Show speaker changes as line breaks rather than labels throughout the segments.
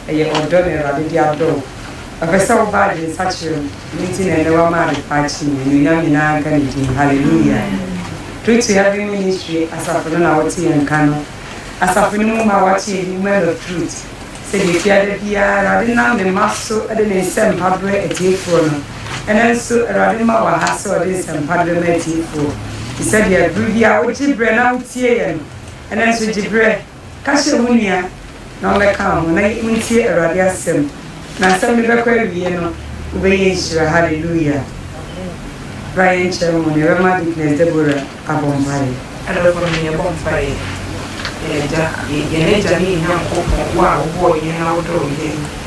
Ɛyɛ ɔdɔ na Awurade de adɔ wo. Ɔpɛ sɛ wo ba adwene sakyera mu. Ɛno nti na ɛnnɛ wama adepa akyem yi. Anuonyam nyinaa nka ne din. Hallelujah. Truth to Heaven Ministry asafo no na wɔte yɛn nka no. Asafo no mu mma a wɔakyɛ yɛn din Women of Truth. Sɛdeɛ ɛfiri ada biara, Awurade nam ne mma so de ne nsɛmpa brɛ atiefoɔ no. Ɛnnɛ nso, Awurade mma wɔ ha sɛ wɔde nsɛmpa no bɛma atiefoɔ. Te sɛdeɛ bere biara wogye berɛ na wotie yɛn no, ɛnnɛ nso gye berɛ. Ka kyerɛ wo nua na ɔmmɛka wo ho na montie Awurade asɛm, na asɛm no bɛkɔ awieɛ no, wobɛnya nhyira. Hallelujah! Bra yɛnkyɛ mo nea ɛbɛma Deaconess Deborah abɔ mpaeɛ. Adɔfoɔ no, yɛbɔ mpaeɛ. Yɛn Agya, yɛn Agya ne yɛn
Nyankopɔn, Wo a Wobɔɔ yɛn na Wodɔɔ yɛn,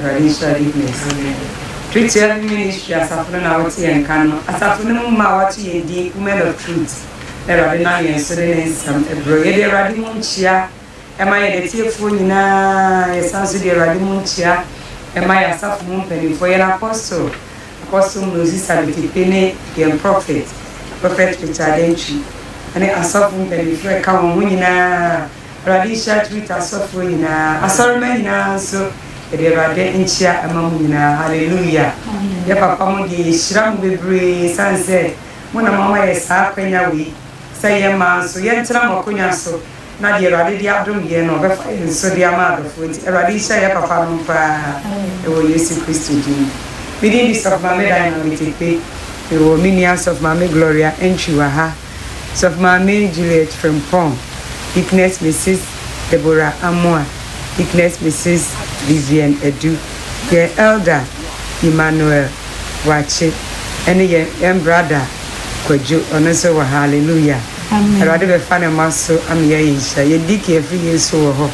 Awurade nhyira
Deaconess. Amen. Twetiɛ
no ministry asafo no na wote yɛn nka no asafo no mu mma a wato yɛn din women of truth Awurade nam yɛn so de ne nsɛm ɛbrɛ yɛde Awurade mu nkyia ɛma yɛn atiefoɔ nyinaa yɛsan so de Awurade mu nkyia ɛma yɛn asafo mu mpanimfoɔ yɛn apostle apostle Moses Abetepe ne yɛn prophet prophet Richard Antwi ɛne asafo mpanimfoɔ ɛka wɔn ho nyinaa Awurade nhyira Twitter asɔfoɔ nyinaa, asɔremma nyinaa nso yɛde Awurade nkyea ma mo nyinaa Hallelujah yɛ papa mo deɛ yɛhyira mo bebree ɛsiane sɛ mo na mo ama yɛ saa akwanya wei sɛ yɛn mmaa nso yɛntena mo akonnwa so na deɛ Awurade de adom yɛn no ɔbɛfa yɛn nso de ama adɔfoɔ nti Awurade nhyira yɛ papa nom paa ɛwɔ Yesu Kristo din me din de sɔfo maame Dynamite pe mewɔ me nua sɔfo maame Gloria Entry wɔ ha Sɔfo Maame Juliet Frimpong, Deaconess Mrs. Deborah Amoah, Deaconess Mrs. Vivian Adu, yɛn Elder Emmanuel Boakye ɛne yɛn yɛn brada Kwadwo ɔno nso wɔ ha Hallelujah Awurade bɛfa ne mma so ama yɛ ayɛ nhyira yɛn Deacon afiri yɛn nso wɔ hɔ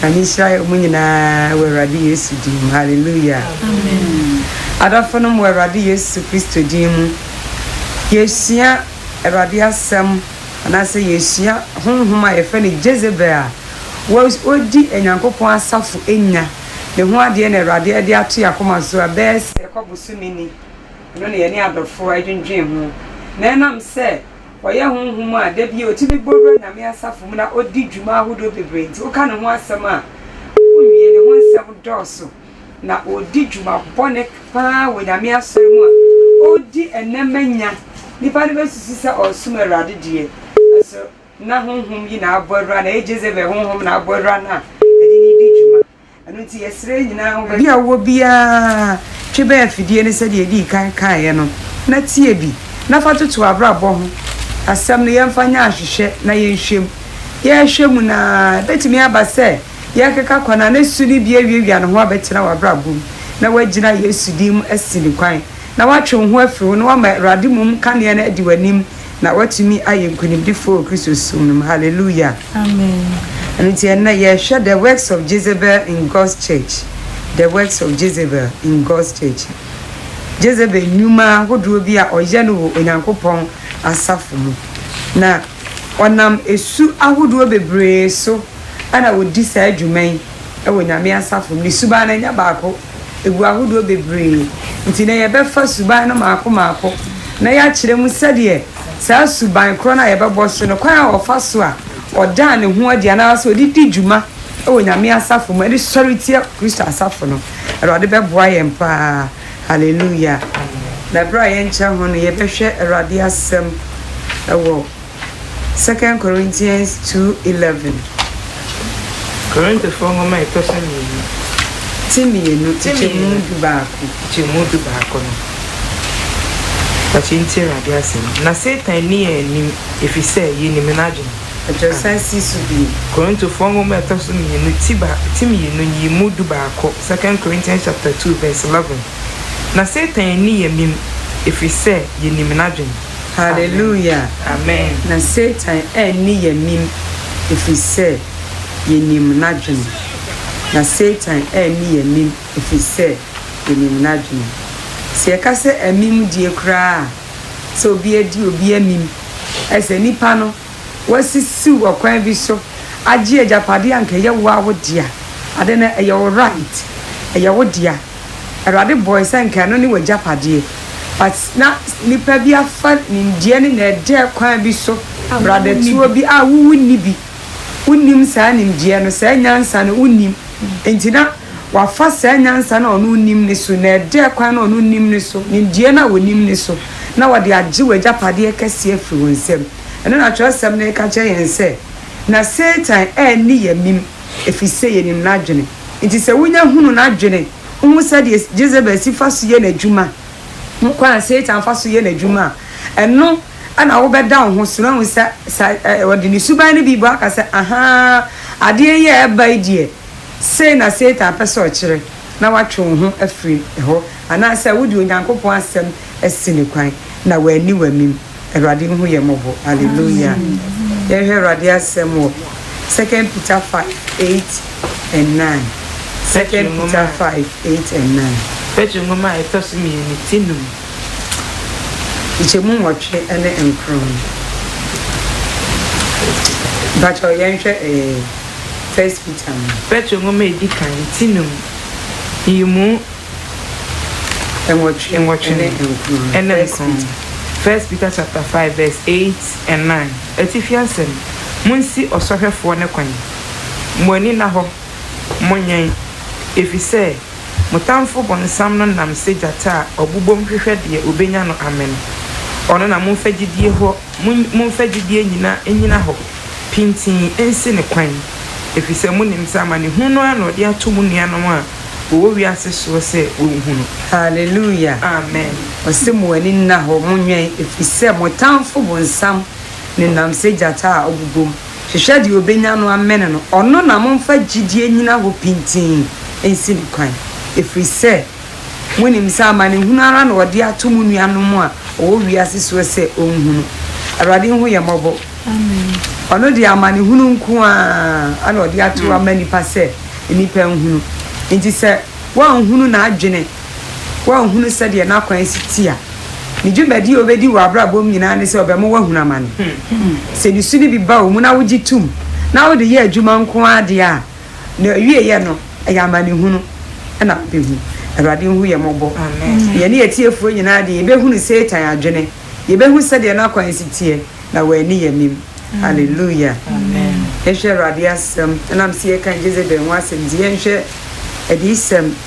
Nyame nhyira yɛ ɔmo nyinaa wɔ Awurade Yesu din mu Hallelujah Adɔfo nom wɔ Awurade Yesu Kristo din mu yɛsua Awurade Asɛm anaasɛ yɛresua honhom a yɛfrɛ no Jezebel a, wadi Onyankopɔn asafo nya, ne ho adeɛ na Awurade de ato yɛn akoma so a, bɛyɛ sɛ ɛkɔ bosome ni. Ɛno na yɛne adɔfoɔ redwendwen ho. Na ɛnam sɛ ɔyɛ honhom a da biara ɔtumi bɔ wura Nyame asafo mu na ɔdi dwuma ahodoɔ bebree nti, woka ne ho asɛm a, wonwie, ne ho nsɛm dɔɔso. na ɔredi dwuma bɔne paa wɔ Nyame Asɛm mu a, ɔredi nnɛma nya, nnipa no bɛsusu sɛ ɔresom Awurade deɛ, nanso na honhom yi na abɔ awura no, ɛyɛ Jezebel honhom na abɔ awura no a ɛde no redi dwuma. Ɛno nti yɛsrɛ nyinaa wo baabi a wowɔ biara, twe bɛn afidie no sɛdeɛ yɛdii kan kaeɛ no, na tie bi, na fa toto w'abrabɔ ho, asɛm no yɛmfa nyɛ ahwehwɛ na yɛnhwɛ mu. Yɛhwɛ mu no ara, ɛbɛtumi aba sɛ Yɛrekeka kɔ no, a ne su no bi awiawia ne ho abɛtena w'abrabɔ mu, na woagyina Yesu din mu asi no kwan, na woatwe wo ho afiri ho, na woama Awurade mmom kanea no adi w'anim, na woatumi ayɛ nkonimdifoɔ wɔ Kristo som no mu. Hallelujah! Ɛno nti ɛnnɛ yɛrehwɛ The Works of Jezebel in God's Church, The Works of Jezebel in God's Church, Jezebel nnwuma ahodoɔ bi a ɔyɛ no wɔ Onyankopɔn asafo mu. Na Wɔnam su ahodoɔ bebree so na wɔdi saa dwuma yi wɔ Nyame asafo mu. Ne suban no ɛnyɛ baako, ɛgu ahodoɔ bebree. Nti nnɛ yɛbɛfa suban no maako maako na yɛakyerɛ mu sɛdeɛ saa suban korɔ no a yɛbɛbɔ so no, kwan a ɔfa so a ɔdaa ne ho adi anaa sɛ ɔde di dwuma wɔ Nyame asafo mu, ɛde sɔre tia Kristo asafo no. Awurade bɛboa yɛn paa. Hallelujah! Na bere a yɛnkyɛ ho no, yɛbɛhwɛ Awurade Asɛm wɔ Second Corinthians two eleven.
Korintofo Nhoma a Ɛtɔ So Mmienu.
Ti mmienu, Ti Kyɛ mu du baako.
Kyɛ mu du
baako no. Ɔkye
nti Awurade Asɛm. Na Satan nni yɛn anim, efisɛ yenim n'adwene. Ɔtwerɛsan sii
so bio. Korintofoɔ nwoma
a ɛtɔ so mmienu ti ba ti mmienu yi mu du baako, Second Corinthians chapter two verse eleven, Na Satan ani yɛ mim, ɛfiri sɛ yɛnim n'adwene. Hallelujah!
Amen.
Na Satan
ani yɛ mim, ɛfiri sɛ yɛnim n'adwene. Na Satan ani yɛ mim, ɛfiri sɛ yɛnim n'adwene. Sɛ yɛka sɛ amimdie koraa a, sɛ obi adi obi amim, sɛ nipa no wasisi wo ɔkwan bi so agye agyapade a anka ɛyɛ wo ara wo dea, ade no ɛyɛ wo right, ɛyɛ wo dea. Awurade bɔe sɛ anka ɛno ne w'agyapadeɛ but na nipa bi afa nimdeɛ ne na ɛdɛɛ kwan bi so bradatuo bi a wo wo nni bi, wo nnim saa nimdeɛ no, saa nyansa no wo nnim, nti na. Wɔafa saa nyansa no a ɔno nnim no so, na ɛda ɛkwan no a ɔno nnim no so, nimdeɛ no a ɔnnim no so, na wɔde agye w'agyapadeɛ kɛseɛ afiri wo nsam. Ɛno na twerɛsɛm no reka kyerɛ yɛn sɛ, Na Satan anni yɛn amim, ɛfiri sɛ yɛnim n'adwene. Enti sɛ wonya hunu n'adwene, wohu sɛdeɛ Jezebel si fa so yɛ n'adwuma, hu kwan a Satan fa so yɛ n'adwuma a, ɛno na wobɛda wo ho so na woahu sɛ, sɛ ɔde ne suban no bi bɔ aka sɛ, Ahaa, adeɛ yi a ɛreba yi deɛ, Sei na Satan pɛ sɛ ɔkyerɛ na watwe wo ho afiri hɔ, anaasɛ wode Onyankopɔn asɛm asi ne kwan na wanni w'amim. Awurade nhu yɛn mmɔbɔ. Hallelujah. Yɛnhwɛ Awurade asɛm wɔ Second Peter five eight and nine. Second Peter five eight and nine. Petro Nwoma a ɛtɔ
so mmienu ti num.
Nkyɛmu nwɔtwe ne nkron. Mpakyɛw yɛnhwɛ ɛɛ. First Peter mu. Petro Nwoma a Edi
Kan, ti num, nyiyimu nwɔtwe
ne nkron,
First Peter chapter five verse eight and nine, Atifi Asɛm, Munsi ɔsɔhwɛfoɔ no kwan, mo ani nna hɔ, monwɛn, ɛfiri sɛ mo tamfo bonsam no nam sɛ gyata a ɔbobom hwehwɛ deɛ ɔbɛnya no amene, ɔno na momfa gyidie hɔ, momfa gyidie nyina nnyina hɔ. pintinn nsi no kwan, efisɛ munim sɛ amanehunu no ara na ɔde ato mo nuanom a wɔwɔ wiase soɔ sɛ wɔnhu no. Hallelujah!
Amen!
Ɔse mo ani
nna hɔ, monwɛn, efisɛ mo tamfo bonsam nenam sɛ gyata a ɔbobom hwehwɛ deɛ ɔbɛnya no amene no, ɔno na momfa gyidie nyina hɔ pintinn nsi no kwan, ɛfiri sɛ. Monim sɛ amanehunu ara na wɔde ato mo nuanom a wɔwɔ wiase soɔ sɛ wɔnhunu. Awurade nhu yɛn mmɔbɔ.
Ɔno deɛ
amanehunu nko ara na ɔde ato ama nnipa sɛ nnipa nhunu. Nti sɛ woanhunu n'adwene, woanhunu sɛdeɛ n'akwan si te a, ne dwumadie a ɔbɛdi wɔ w'abrabɔ mu nyinaa ne sɛ ɔbɛma woahunu amane. Sɛ nisu no bi ba wo mu na wogye tom na wode yɛ adwuma nko ara deɛ a, Na awieeɛ no, ɛyɛ amanehunu na wobɛhu. Awurade nhu yɛn mmɔbɔ. Yɛne atiefoɔ nyinaa deɛ yɛbɛhunu Satan adwene, yɛbɛhu sɛdeɛ n'akwan si teɛ, na wanni yɛn anim. Hallelujah.
Yɛnhwɛ Awurade
asɛm, ɛnam sɛ yɛkan Jezebel ho asɛm nti, yɛnhwɛ Adiyisɛm.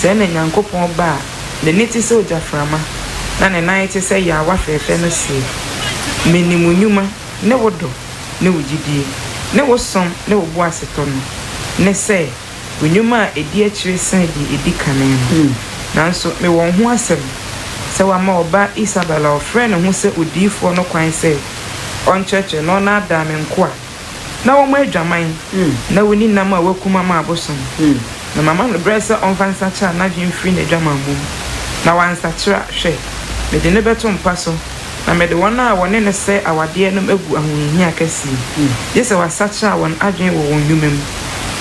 Sɛɛ na Nyankopɔn Ba a n'ani te sɛ ogyaframa na ne nan te sɛ yaawa fɛɛfɛ no seɛ, Menim wo nnwuma ne wo dɔ ne wo gyidie ne wo som ne wo boasetɔ no, ne sɛ, wo nnwuma a ɛdi akyire sene deɛ ɛdi kane no. Nanso mewɔ wo ho asɛm, sɛ woama wo ba Isabel a ɔfrɛ ne ho sɛ odiyifoɔ no kwan sɛ ɔnkyerɛkyerɛ na ɔnnaadaa me nkoa, na wɔmmɔ adwaman, na wonni nam a wɔakum ama abosom, na mama no berɛ sɛ ɔmfa nsakyera n'adwene mfiri n'adwamammɔ mu, na wansakyera, hwɛ, mede no bɛto mpa so, na mede wɔn a wɔne no sɛe awadeɛ no agu ahohiahia kɛseɛ, gye sɛ wɔasakyera wɔn adwene wɔ wɔn nnwuma mu,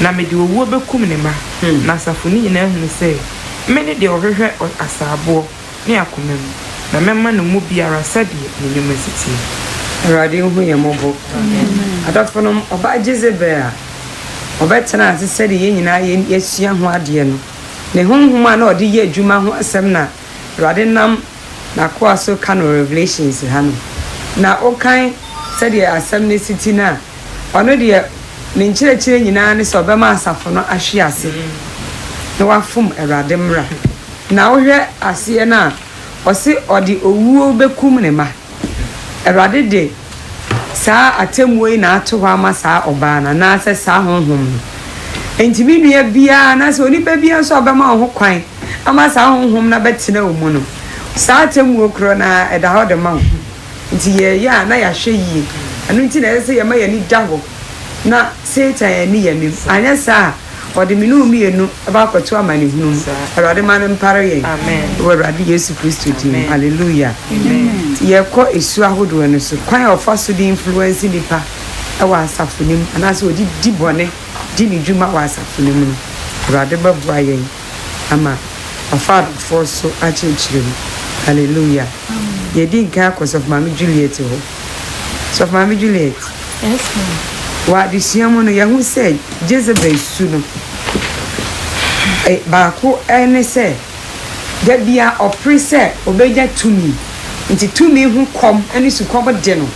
na mede owuo bɛkum ne mma, na asafo no nyinaa ahunu sɛ mene deɛ ɔhwehwɛ asaaboɔ. ne akoma mu, na mɛma no mu biara sɛdeɛ ne nnwuma si teɛ. Awurade
nhu yɛn mmɔbɔ. Adɔfonom, ɔbaa Jezebel a ɔbɛtenaa ase sɛdeɛ yɛn nyinaa yɛ yɛasua ho adeɛ no, ne honhom a na ɔde yɛ adwuma ho asɛm na Awurade nam N'akoa so ka no Revelations ha no. Na wokan sɛdeɛ asɛm no si te no a, ɔno deɛ ne nkyerɛkyerɛ nyinaa ne sɛ ɔbɛma asafo no ahwe ase na wɔafom Awurade mmara. Na wohwɛ aseɛ no a, ɔse ɔde owuo bɛkum ne mma. Awurade de saa atemmuo yi na ato hɔ ama saa ɔbaa no, anaasɛ saa honhom no. Enti me nua biara, anaasɛ onipa biara nso a ɔbɛma wo ho kwan ama saa honhom no abɛtena wo mu no, saa atemmuo korɔ no ara ɛda hɔ de ma wo. Enti yɛreyɛ a, na yɛahwɛ yie. Ɛno nti na ɛsɛ sɛ yɛma yɛn ani da hɔ na Satan anni yɛn amem. Anyɛ saa a, Ɔde me ne wo mmienu ba akɔto amanehunu mu. Awurade ma no mpare yɛn. Wɔ Awurade
Yesu Kristo
din mu. Hallelujah. Nti yɛkɔ esu ahodoɔ no so. Kwan a ɔfa so de influence nipa wɔ asafo no mu anaasɛ ɔde di bɔne di ne dwuma wɔ asafo no mu no, Awurade bɛboa yɛn. ama wafa adɔfoɔ so akyerɛkyerɛ mu. Hallelujah. Yɛdi nkan akɔ Sɔfo Maame Juliet hɔ. Sɔfo Maame Juliet. Yes, ma'am.
Wɔ adesua
mu no, yɛhu sɛ Jezebel su no, eh, baako eh, ne sɛ, da bia ɔpere sɛ ɔbɛnya tumi. Nti tumi ho kɔm ne sukɔm de no.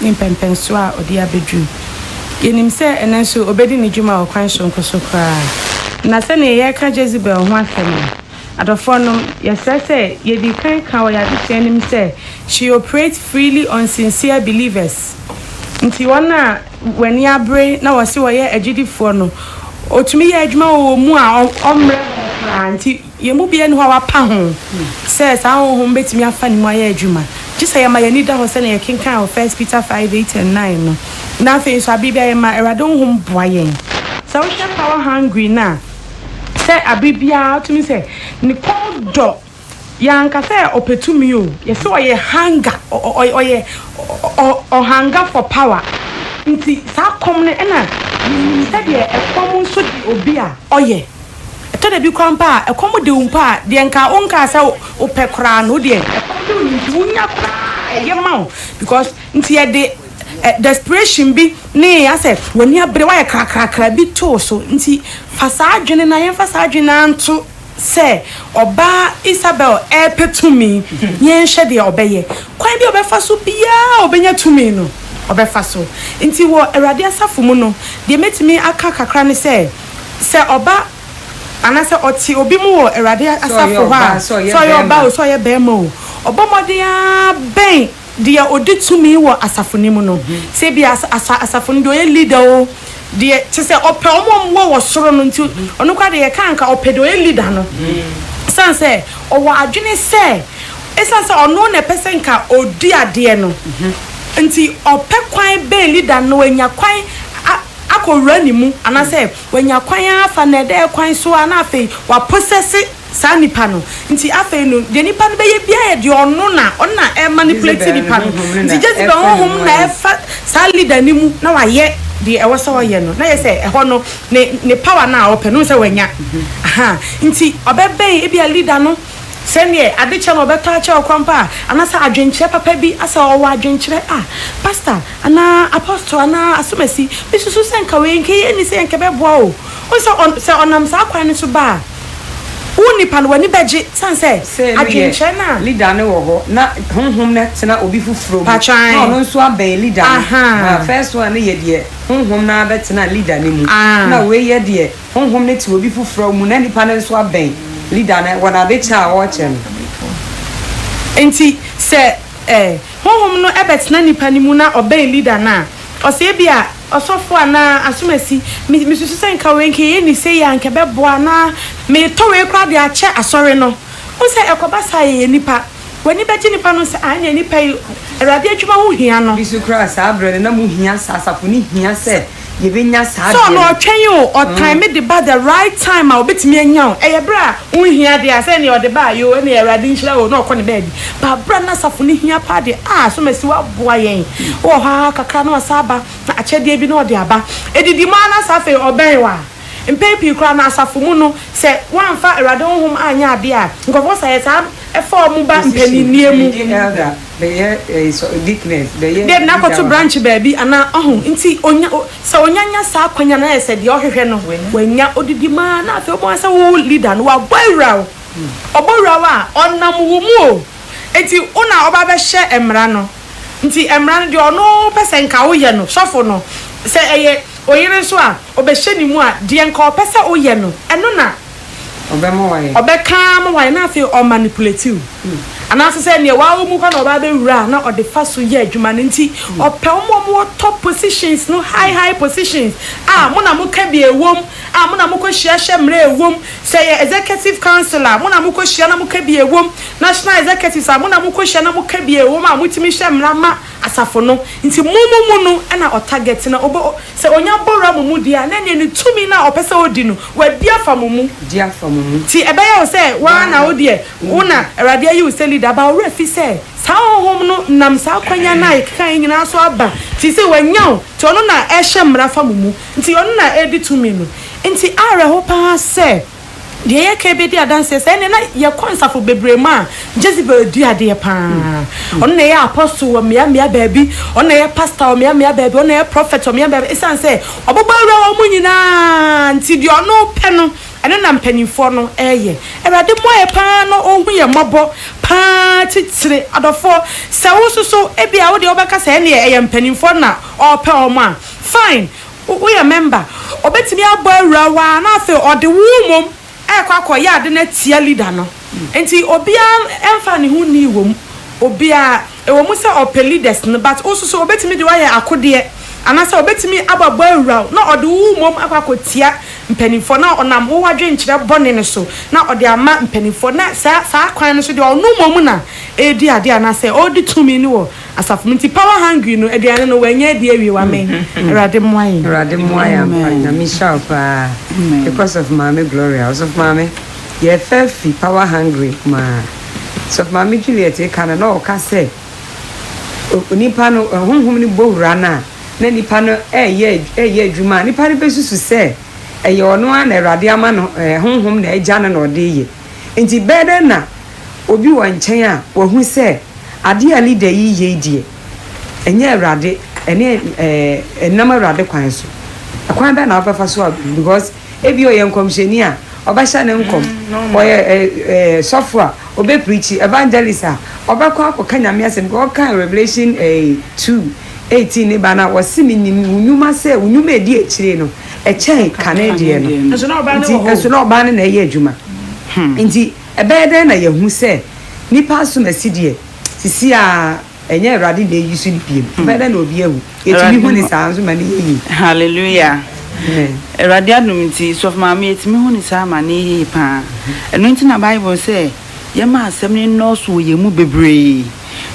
ne mpɛnpɛnsoɔ a ɔde abɛduru. Yɛnim sɛ ɛnnɛ nso ɔbɛdi ne dwuma wɔ kwan soronko so koraa. Na sɛdeɛ yɛreka Jezebel ho asɛm no, adɔfoɔnom, yɛsrɛ sɛ yɛdi kan ka wɔ yɛn adesua anim sɛ she operates freely on sincere believers. Nti wɔn a wɔani abere na wɔse wɔyɛ agyidifoɔ no, ɔtumi yɛ adwuma wɔ wɔn mu a ɔmmrɛ ho koraa. Nti Yɛn mu biara nni hɔ a wapa ho sɛ saa honhom no betumi afa ne mu ayɛ adwuma, gye sɛ yɛma yɛn ani da hɔ sɛnea yɛkenkan wɔ First Peter five eight and nine no, na afei nso bere biara yɛma Awurade honhom boa yɛn. Sɛ wohwɛ Power Hungry no a, sɛ bere biara wotumi sɛ, Ne kɔn dɔ. Yɛanka sɛ ɔpɛ tumi o, yɛse ɔyɛ hunger, ɔyɛ ɔhanga for power. Nti saa kɔm no na yenim sɛdeɛ ɛkɔm nso de obi a ɔyɛ Ɛtɔ da bi koraa mpo a, ɛkɔm de wo mpo a, deɛ nka wonkaa sɛ wopɛ koraa no, wo deɛ ɛkɔm de wo no nti wonya koraa a, ɛye ma wo because nti yɛde desperation bi ne asɛ w'ani abere, woayɛ krakrakra bi to wo so. Nti fa saa adwene no ara, yɛmfa saa adwene no ara nto sɛ ɔbaa Isabel repɛ tumi, na yɛnhwɛ deɛ ɔbɛyɛ. Kwan bi a ɔbɛfa so biara a ɔbɛnya tumi no, ɔbɛfa so. Nti wɔ Awurade asafo mu no, deɛ mɛtumi aka kakra ne sɛ, Sɛ ɔba anaasɛ ɔte obi mu wɔ Awurade asafo hɔ a, sɛ ɔyɛ ɔbaa o, sɛ ɔyɛ barima o, ɔbɔ mmɔden ara bɛn deɛ ɔdi tumi wɔ asafo no mu no. Sɛ ebia asa, asafo no deɛ ɔyɛ leader o, deɛ kyerɛ sɛ ɔpɛ wɔn a wɔwɔ wɔ soro no nti, ɔno koraa deɛ yɛka anka ɔpɛ deɛ ɔyɛ leader no. Ɛsiane sɛ ɔwɔ adwene sɛ, ɛsiane sɛ ɔno na ɛpɛ sɛ nka ɔdi adeɛ no nti, ɔpɛ kwan bɛn leader no, ɔnya kwan a. akɔwura ne mu anaasɛ wanya kwan ara afa no ɛdɛɛ kwan so ara na afei waposɛse saa nipa no nti afei no deɛ nipa no bɛyɛ biara yɛ deɛ ɔno na ɔno na ɛremanipulate nipa no nti Jezebel honhom na ɛfa saa leader no mu na wayɛ deɛ ɛwɔ sɛ ɔyɛ no na yɛ sɛ ɛhɔ no ne ne power no a ɔpɛ no sɛ wanya ahaa nti ɔbɛbɛn ebia leader no Sɛdeɛ ade kyɛ no ɔbɛtɔ akyɛ wo kwan pa a, anaasɛ adwenkyerɛ papa bi asɛ ɔwɔ adwenkyerɛ a, Pastor anaa Apostle anaa Asomasi, me susu sɛ nka wei nka yɛn ni sɛ yɛn ka bɛboa wo. Wohu sɛ ɔn sɛ ɔnam saa kwan no so ba a, wo nipa no w'ani bɛgye sane sɛ Sei no yɛ adwenkyerɛ no a. leader no wɔ hɔ na
Honhom no tena obi foforɔ mu Pakyɛw na ae. ɔno nso abɛn leader no, Ahaa. ahaa, first one no yɛ deɛ Honhom no ara bɛtena leader no mu, Aah. ɛna wei yɛ deɛ Honhom no te obi foforɔ mu na nnipa no nso abɛn leader no wɔ n'adekyɛ a ɔrekyɛ no. Enti sɛ
eh, Honhom no bɛtena nnipa no mu na ɔbɛn leader no a, ɔsɛ ebia ɔsɔfo anaa asomasi, me, mesusu sɛ nka wei nka yɛyɛ no sei a, nka ɛbɛboa anaa meretɔ wei koraa de akyɛ asɔre no. Wohu sɛ ɛkɔba saa a yɛyɛ nnipa. W'ani bɛgye nnipa no sɛ aane nnipa yi Awurade adwuma ho hia no. Bi so koraa saa berɛ no
na mo hia saa asafo no hia sɛ yɛbɛnya saa adeɛ no. Sɛ ɔno ɔtwɛn o
ɔtan me de ba the right time a ɔbɛtumi anya o ɛyɛ berɛ a wo nhia adeɛ a sɛ nea ɔde baa yoo ɛnneɛ Awurade nhyira oo na ɔkɔ ne baabi but berɛ a na asafo no hia paa deɛ ah asomasi woaboa yɛn wɔ hɔ ara kakra na wasan aba na akyɛdeɛ bi na ɔde aba ɛdidi mu ara na saa afei ɔbɛn wo a Mpɛn pii koraa no, asafo mu no, sɛ wɔamfa Awurade honhom anyɛ ade a, nkurɔfo saa yɛ saa fa wɔn ba mpaninnie mu.
Dɛn na akɔto branch
baabi anaa ɔho nti onya sɛ onya nya saa akwanya no ayɛ sɛ deɛ ɔhwehwɛ no wanya? Odidi mu ara na afei wɔbɛhu sɛ wo leader no wabɔ awuraw. Ɔbɔ wuraw a, ɔnam wo mu o. Enti wo na ɔba bɛhyɛ mmara no. Nti mmara no deɛ ɔno pɛ sɛ nka woyɛ no, sɔfo no, sɛ ɛyɛ oyere nso a, Ɔbɛhyɛ ne mu a, deɛ nka ɔpɛ sɛ woyɛ no, ɛno na ɔbɛka ara ma woayɛ, na afei ɔmanipulate wo. Anaasɛ sɛ neɛ waa wo mu hɔ na ɔba abɛwura a, na ɔde fa so yɛ adwuma no nti, ɔpɛ wɔn a wɔwɔ top positions no, high high positions a mo na moka bi a ɛwɔ mu a mo na mokɔhyia hyɛ mmara a ɛwɔ mu, sɛ ɛyɛ executive council a mo na mokɔhyia na moka bi a ɛwɔ mu, national executives a mo na mokɔhyia na moka bi a ɛwɔ mu a motumi hyɛ mmara ma. Asafo no, nti mo mo mu no na ɔ target na ɔbɛ ɔ, sɛ ɔnya bɔra mo mu deɛ a, na ɛneɛ ne tumi no a ɔpɛ sɛ ɔdi no, w'adi afa mo mu. Di afa mo mu. Nti
ɛbɛyɛ wo sɛ
woara na wo deɛ, wo na Awurade ayi wo sɛ leader, ba wo werɛ fi sɛ, saa Honhom no nam saa akwanya no a yɛkeka yi nyinaa so aba, nti sɛ w'anya wo, nti ɔno na ɛrehyɛ mmara afa mo mu, nti ɔno na ɛredi tumi no, nti awerɛho paa sɛ. Deɛ yɛreka yi bɛdi adanseɛ sɛ ɛnneɛ na yɛkɔ nsafo bebree mu a Jezebel di adeɛ paa. Ɔno na ɛyɛ apostle wɔ mmeammea baabi, ɔno na ɛyɛ pastor wɔ mmeammea baabi, ɔno na ɛyɛ prophet wɔ mmeammea baabi. Ɛsiane sɛ ɔbobɔ awura wɔn nyinaa nti, deɛ ɔno pɛ no, ɛno na mpanimfoɔ no reyɛ. Awurade mmoa yɛn paa na ɔnhu yɛn mmɔbɔ paa titire. Adɔfoɔ, sɛ wo nso so, ebia wo deɛ wobɛka sɛ ɛnneɛ ɛyɛ mpanimfoɔ no na ɔrepɛ wɔn a, fine. Woyɛ mɛmba. Obetumi abɔ awura wo ara na afei ɔde wo mmom rekɔ akɔyɛ ade no atia leader no. Nti obiara mfa ne ho nni wom. Obiara, ɛwɔ mu sɛ ɔpɛ leaders no, but wo nso so obetumi de wo ayɛ akodeɛ. Anaasɛ obetumi aba abɔ awura wo na ɔde wo mmom akɔ akɔtia mpanimfoɔ na ɔnam wo adwenkyerɛ bɔne no so na ɔde ama mpanimfoɔ na saa saa kwan no so deɛ ɔno mmom na ɛredi adeɛ anaasɛ ɔredi tumi no wɔ Asafo mu nti power hungry no aduane no wanya adi awie wamɛn awurade mmoa yɛn. Awurade mmoa yɛn ampa
nyame nhyira wo paa yɛkɔ ɔsɔfo maame Gloria ɔsɔfo maame yɛfa firi power hungry kumaa ɔsɔfo maame Juliet eka no na ɔka sɛ onipa no honhom no bɔ wura no a na nipa no ɛyɛ ɛyɛ adwuma a nipa no bɛsusu sɛ ɛyɛ ɔno a na awurade ama no honhom na agya no na ɔde yɛ. Enti bɛyɛ dɛn na obi wɔ nkyɛn a wahu sɛ ade a leader yi reyɛ yi deɛ, ɛnyɛ Awurade, ɛne ɛnam Awurade kwan so? Ɛkwan bɛn na wobɛfa so ahu? Because ebia ɔyɛ nkɔmhyɛni a ɔbɛhyɛ ne nkɔm, ɔyɛ sɔfo a ɔbɛpreachi, evangelist a ɔbɛkɔ akɔka Nyame asɛm, because ɔkaa Revelation two eighteen no ba no a, ɔse menim wo nnwuma sɛ, wo nnwuma a ɛdi akyire no, ɛkyɛn kane deɛ no, nso na ɔbaa no wɔ hɔ o. nti nso na ɔbaa no na ɛyɛ adwuma, nti ɛbɛyɛ dɛn na yɛahu sɛ nnipa asom asi deɛ sisi a ɛnyɛ Awurade na ɛyi so no biom, ɛbɛyɛ dɛn na obi ahu, yɛtumi hu no saa nso ma no yɛ yie. Hallelujah,
Awurade adom nti, Sɔfo Maame yɛtumi hu no saa ma no yɛ yie paa, ɛno nti na Bible sɛ. Yɛma Asɛm no nnɔɔso wɔ yɛn mu bebree.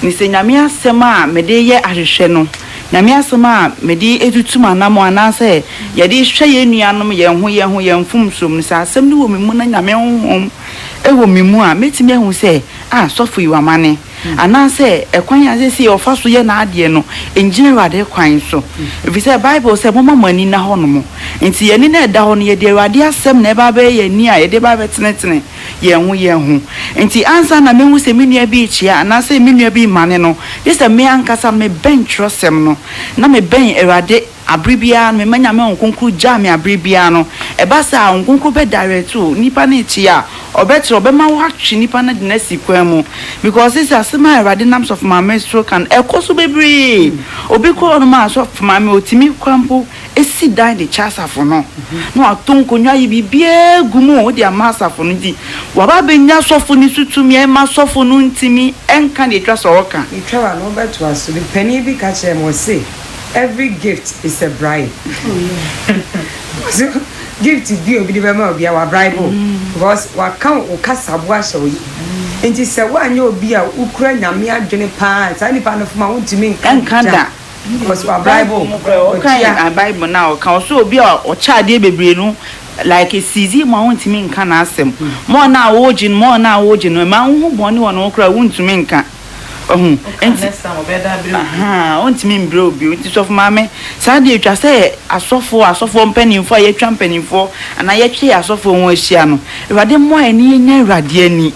Ne sɛ Nyame Asɛm a mede reyɛ ahwehwɛ no, Nyame Asɛm a mede retutu m'anammɔn anaasɛ yɛde rehwɛ yɛn nuanom, yɛn ho yɛn ho, yɛn mfomsoɔ mu no, sɛ Asɛm no wɔ me mu na Nyame Honhom wɔ me mu a, mɛtumi ahu sɛ, ah, sɔfo yi wamane. Anaasɛ ɛkwan a seesei ɔfa so yɛ n'adeɛ no, ɛngyina Awurade kwan so. Ɛfiri sɛ Bible sɛ, Momma mo ani nna hɔ nom. Nti yɛn ani no a ɛda hɔ no, yɛde Awurade Asɛm na ɛba abɛyɛ yɛn ani a yɛde ba abɛtenetene. yɛn ho yɛn ho. Enti ansa na mehu sɛ me nua bi rekyia anaasɛ me nua bi remane no, gye sɛ me ankasa mebɛn twerɛsɛm no, na mebɛn Awurade bere biara no, mema Nyame Honhom Kronkron gyaa me bere biara no. Ɛba saa a, Honhom Kronkron bɛ direct wo, nipa no rekyia a, ɔbɛkyerɛ wo, ɔbɛma woatwe nipa no adi no asi kwan mu. Because seesei asɛm a Awurade nam Sɔfo Maame so ka no, ɛkɔ so bebree. Obi kɔ hɔnom a, Sɔfo Maame, ɔtumi kura mpo. asi dan de kyɛ asafo no, na wɔato nkonnwa ayɛ biribiara agu mu de ama asafo no nti, wɔaba abɛnya asɔfo no so tumi, ɛmma asɔfo no ntumi nka deɛ ɛtwa sɛ wɔka. Metwa wo ano, wobɛtoa
so de, panin bi ka kyerɛɛ me, ɔse, Every gift is a bribe. Ɔse, Gift biara a obi de bɛma wo biara, wabribe wo, because waka wo kasaboa ahyɛ wo yam. Nti sɛ woanyɛ obi a wokura Nyame adwene paa a, saa nipa no fom a, wontumi nka da. Because my
Bible, my Bible na ɔka ɔsɛ obi a ɔkyɛ adeɛ bebree no like esizi ma ɔntumi nka n'asɛm mɔɔ na awogye no mɔɔ na awogye no ɛma wohu bɔn ne wɔn ho koraa wontumi nka ɔho nti ahaa ɔntumi mbrɛ obi nti sɔfo maame saa deɛ etwa sɛ asɔfo asɔfo mpanimfoɔ a yɛtwa mpanimfoɔ anaa yɛtwe asɔfo ho ahyia no awurade mmoa yɛn ne yɛnya awurade ani.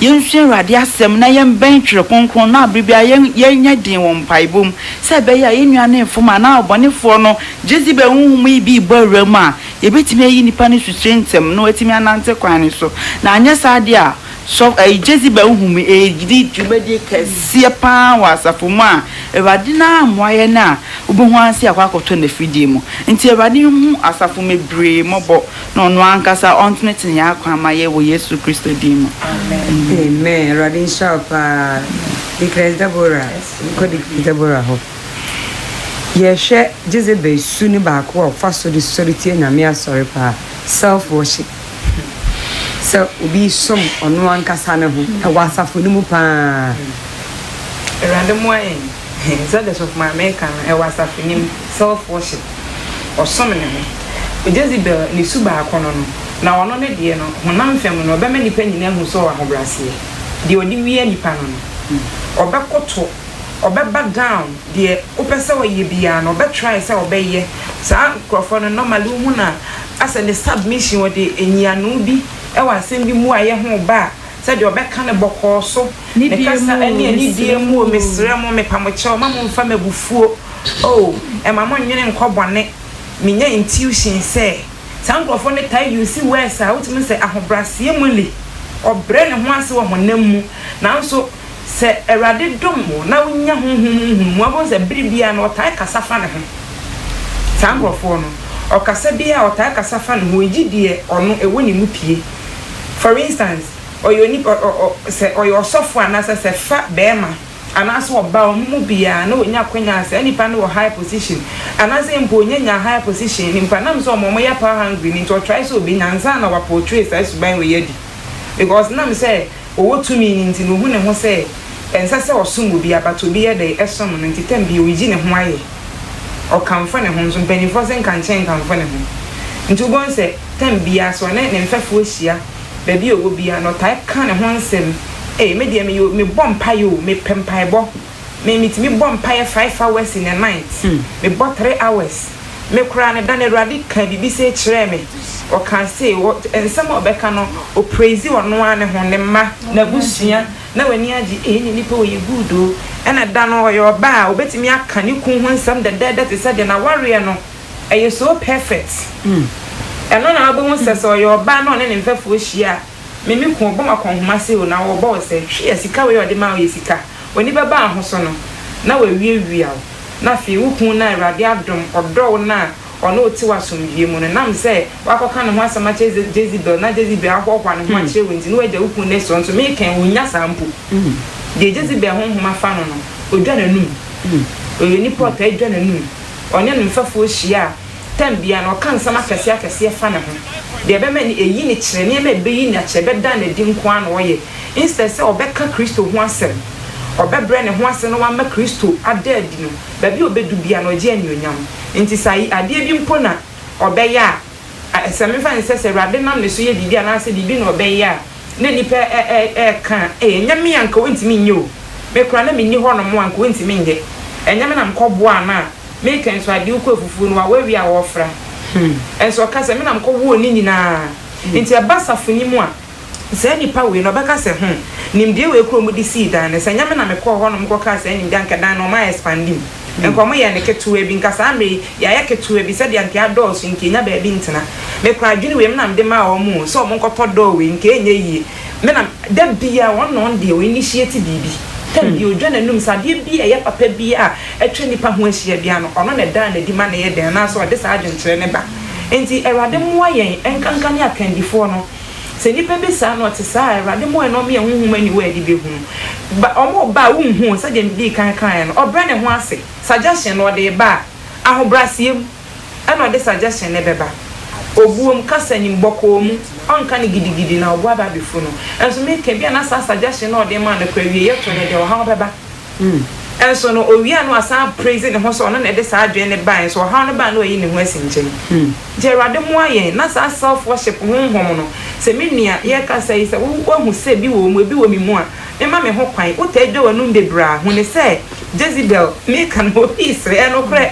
Yɛnsua Awurade Asɛm na yɛmbɛn Twerɛ Kronkron no a berɛbiara yɛn yɛnyɛ den wɔ mpaebɔ mu sɛ ɛbɛyɛ a yɛn nua no remfom anaa ɔbɔnefoɔ no Jezebel honhom yi bi rebɔ awura mu a yɛbɛtumi ayi nipa no susire ntɛm na watumi anante kwan no so na anyɛ saa deɛ a sɔ ɛyi Jezebel honhom yi ɛredi dwumadie kɛseɛ paa wɔ asafo mu a Awurade no ammoa yɛn a wobɛhu ara sɛ yɛakɔ akɔtɔ n'afidie mu nti Awurade nhu asafo mebree mmɔbɔ Na ɔno ankasa ɔntenetene yɛn akwan ma yɛn wɔ Yesu Kristo din mu. Amen. Amen
awurade nhyira wo paa Deaconess Deborah kɔ Deaconess Deborah hɔ yɛhwɛ Jezebel su no baako a ɔfa so de sɔre tia Nyame asɔre paa self worship sɛ obi som ɔno ankasa ne ho ɛwɔ asafo no mu paa. Awurade moa yɛn sɛdeɛ sɔfo maame ka no ɛwɔ asafo
no mu self worship ɔsom ne ho. Jezebel ne su baako no no, na ɔno ne deɛ no, honam fam no, ɔbɛma nnipa nyinaa ahu sɛ ɔwɔ ahobrɛaseɛ. Deɛ ɔde wia nnipa no no, ɔbɛkoto, ɔbɛba down, deɛ wopɛ sɛ ɔyɛ biara no, ɔbɛ try sɛ ɔbɛyɛ. Saa nkorɔfoɔ no, normally wohunu a, asɛ ne submission, ɔde nyiano bi wɔ asɛm bi mu a ɛyɛ ho ba a, Sɛ deɛ ɔbɛka no bɔkɔɔ so. Ne kasa ne anidie mu o, mesrɛ mo, mepa mo kyɛw, mma momfa m'abufuo o, mma monnwene nkɔ bɔne. Menya intuition sɛ, saa nkorɔfoɔ no taa use words a wotumi hu sɛ ahobrɛaseɛ mu li, ɔbrɛ ne ho ase wɔ honam mu. Nanso sɛ Awurade dom wo na wonya honhom mu nhunumu a, wobɛhu sɛ berɛ biara no ɔtaa kasa fa ne ho. Saa nkorɔfoɔ no, ɔkasa biara a ɔtaa kasa fa ne ho, ɔgye deɛ ɔno ɛwɔ ne mu pue. for instance ɔyɛ onip ɔ ɔ sɛ ɔyɛ ɔsɔfo anaasɛ sɛ fa bɛɛma anaasɛ ɔbaa ɔmo mu biaa na ɔnya akwanya a saa nipa no wɔ high position anaasɛ mpo ɔnya nyaa high position no mpo a nam sɛ ɔmo ɔmo yɛ power hungry no nti ɔtrae sɛ ɔbɛnya ansa na wa portray saa suban wei adi because nam sɛ Ɔwɔ tumi no nti no ohu ne ho sɛ ɛnsɛ sɛ ɔsom obiara but obi yɛ dɛn ɛsom no nti tɛm bi ɔregye ne ho ayɛ ɔkamfo ne ho nso mpaninfoɔ se nkankyɛ nkamfo ne ho nti wobɛhu sɛ tɛm biara sɛ ɔne ne mfɛfoɔ hyia baabi a ɔwɔ biara no ɔtae ka ne ho nsɛm ee me deɛ meyɛ mebɔ mpaeɛ oo mepɛ mpaebɔ Me me tumi bɔ mpaeɛ five hours in a night me bɔ three hours me koraa no da no awurade kaa biribi sei kyerɛɛ me ɔkaa sei wɔ nsɛm a ɔbɛka no o praise ɔno ara ne ho ne mma n'abusua na w'ani agye ei ne nipa ɔyɛ good o ɛna da no ɔyɛ ɔbaa a ɔbɛtumi aka ne kun ho nsɛm dɛdɛɛdɛ te sɛ deɛ n'awareɛ no ɛyɛ so perfect ɛno na wobɛhu sɛ sɛ ɔyɛ ɔbaa na ɔne ne mfɛfoɔ hyia a. Me me kun, ɔbɔ me akɔnhoma se o, na ɔrebɔ wo sɛ, Hwia, sika wei a ɔde maa wo yɛ sika. W'ani bɛba aho so no, na wawiawia wo. Na afei wo kun no a Awurade adom, ɔdɔ wo na ɔne wo te wɔ asomdwoeɛ mu no, ɛnam sɛ woakɔka ne ho asɛm akyerɛ Jezebel na Jezebel ahoahoa ne ho akyerɛ wo nti, na woagya wo kun no asi hɔ. Nso meka yi, ɔnnya saa mpo. Deɛ Jezebel honhom afa no no, ɔdwa n'anom. Ɔyɛ onipa a ɔtaa dwa n'anom. Ɔne ne mfɛfoɔ hyia a, Tam biara no, ɔka nsɛm akɛseakɛseɛ fa ne ho. Deɛ ɛbɛma no ayi no kyerɛ, nneɛma a ɛbɛyi no akyerɛ, ɛbɛda no adi nko ara na ɔyɛ. Instead sɛ ɔbɛka Kristo ho asɛm, ɔbɛbrɛ ne ho ase na wama Kristo ada adi no, baabi a ɔbɛdu biara no, ɔgye anuonyam. Enti sɛ ayi adeɛ bi mpo na ɔbɛyɛ a, sɛ memfa no sɛ, sɛ Awurade nam ne so yɛ biribi anaasɛ biribi na ɔbɛyɛ a, Na nnipa reka, Ei, ɛnyɛ me a anka wontumi nyɛ o, me koraa na minni hɔnom a anka wontumi nyɛ. Ɛnyɛ me na mekɔboaa no a meka nso ade wokɔ afufuo no wawo awie a wɔrefra. Nso ɔka sɛ, Me na mekɔwoo ne nyinaa. Enti ɛba asafo no mu a, saa nnipa wei no ɔbɛka sɛ, Ho, nimdeɛ wei koraa a wɔde sii dan no, sɛ ɛnyɛ me na mekɔɔ hɔnom kɔkaa saa nimdeɛ a anka dan no wɔaexpande mu. Nkɔmɔ yɛ no ketewaa bi, nka saa mmerɛ yi yɛayɛ ketewaa bi sɛdeɛ nka yɛadɔɔso nti yɛnya baabi ntena. Mekora adwene wei, me na mede maa wɔn o, sɛ wɔn nkɔtɔ dɔɔ wei, nka ɛnyɛ yie. Me na, da biara wɔn na wɔn deɛ wɔ initiate biribi. Tam deɛ ɔdwa n'anum sɛ adeɛ biara a ɛyɛ papa biara a atwa nnipa ho ahyia biara no, ɔno na ɛda n'adi ma no yɛ den, anaasɛ ɔde saa adwenkyerɛ no ba. Nti Awurade mmoa yɛn nkanka ne akandifoɔ no, Sɛ nnipa bi saa na ɔte saa a, Awurade mmoa yɛn na ɔmma yɛn honhom aniwa a ɛde bɛhunu. Ba, wɔba a, wonhu wɔn, sɛdeɛ medii kan kaeɛ no, ɔbrɛ ne ho ase, suggestion na ɔde reba a, ahobrɛaseɛ mu na ɔde suggestion no bɛba. Obuo mu, kasa nim, bɔkɔɔ mu, ɔnka no gidigidi na ɔbo aba abɛfu no. Nanso meka, ebia na saa suggestion no a ɔde maa no koraa, awieeɛ tɔ no deɛ, ɔhaw bɛba. Nso no owia no asan a praise ne ho sɛ ɔno na ɛde saa adwene no bae nso ɔhaw no ba a na wayi ne ho asi nkyɛn nti awurade mmoa yɛn na saa self worship honhom no sɛ me nua yɛkasa yi sɛ wo wahu sɛ bi wɔ mu ebi wɔ me mu a me ma me ho kwan wo taa dwa w'anum bebree a hu ne sɛ Jezebel me ka no obi srɛ ɛno korɛ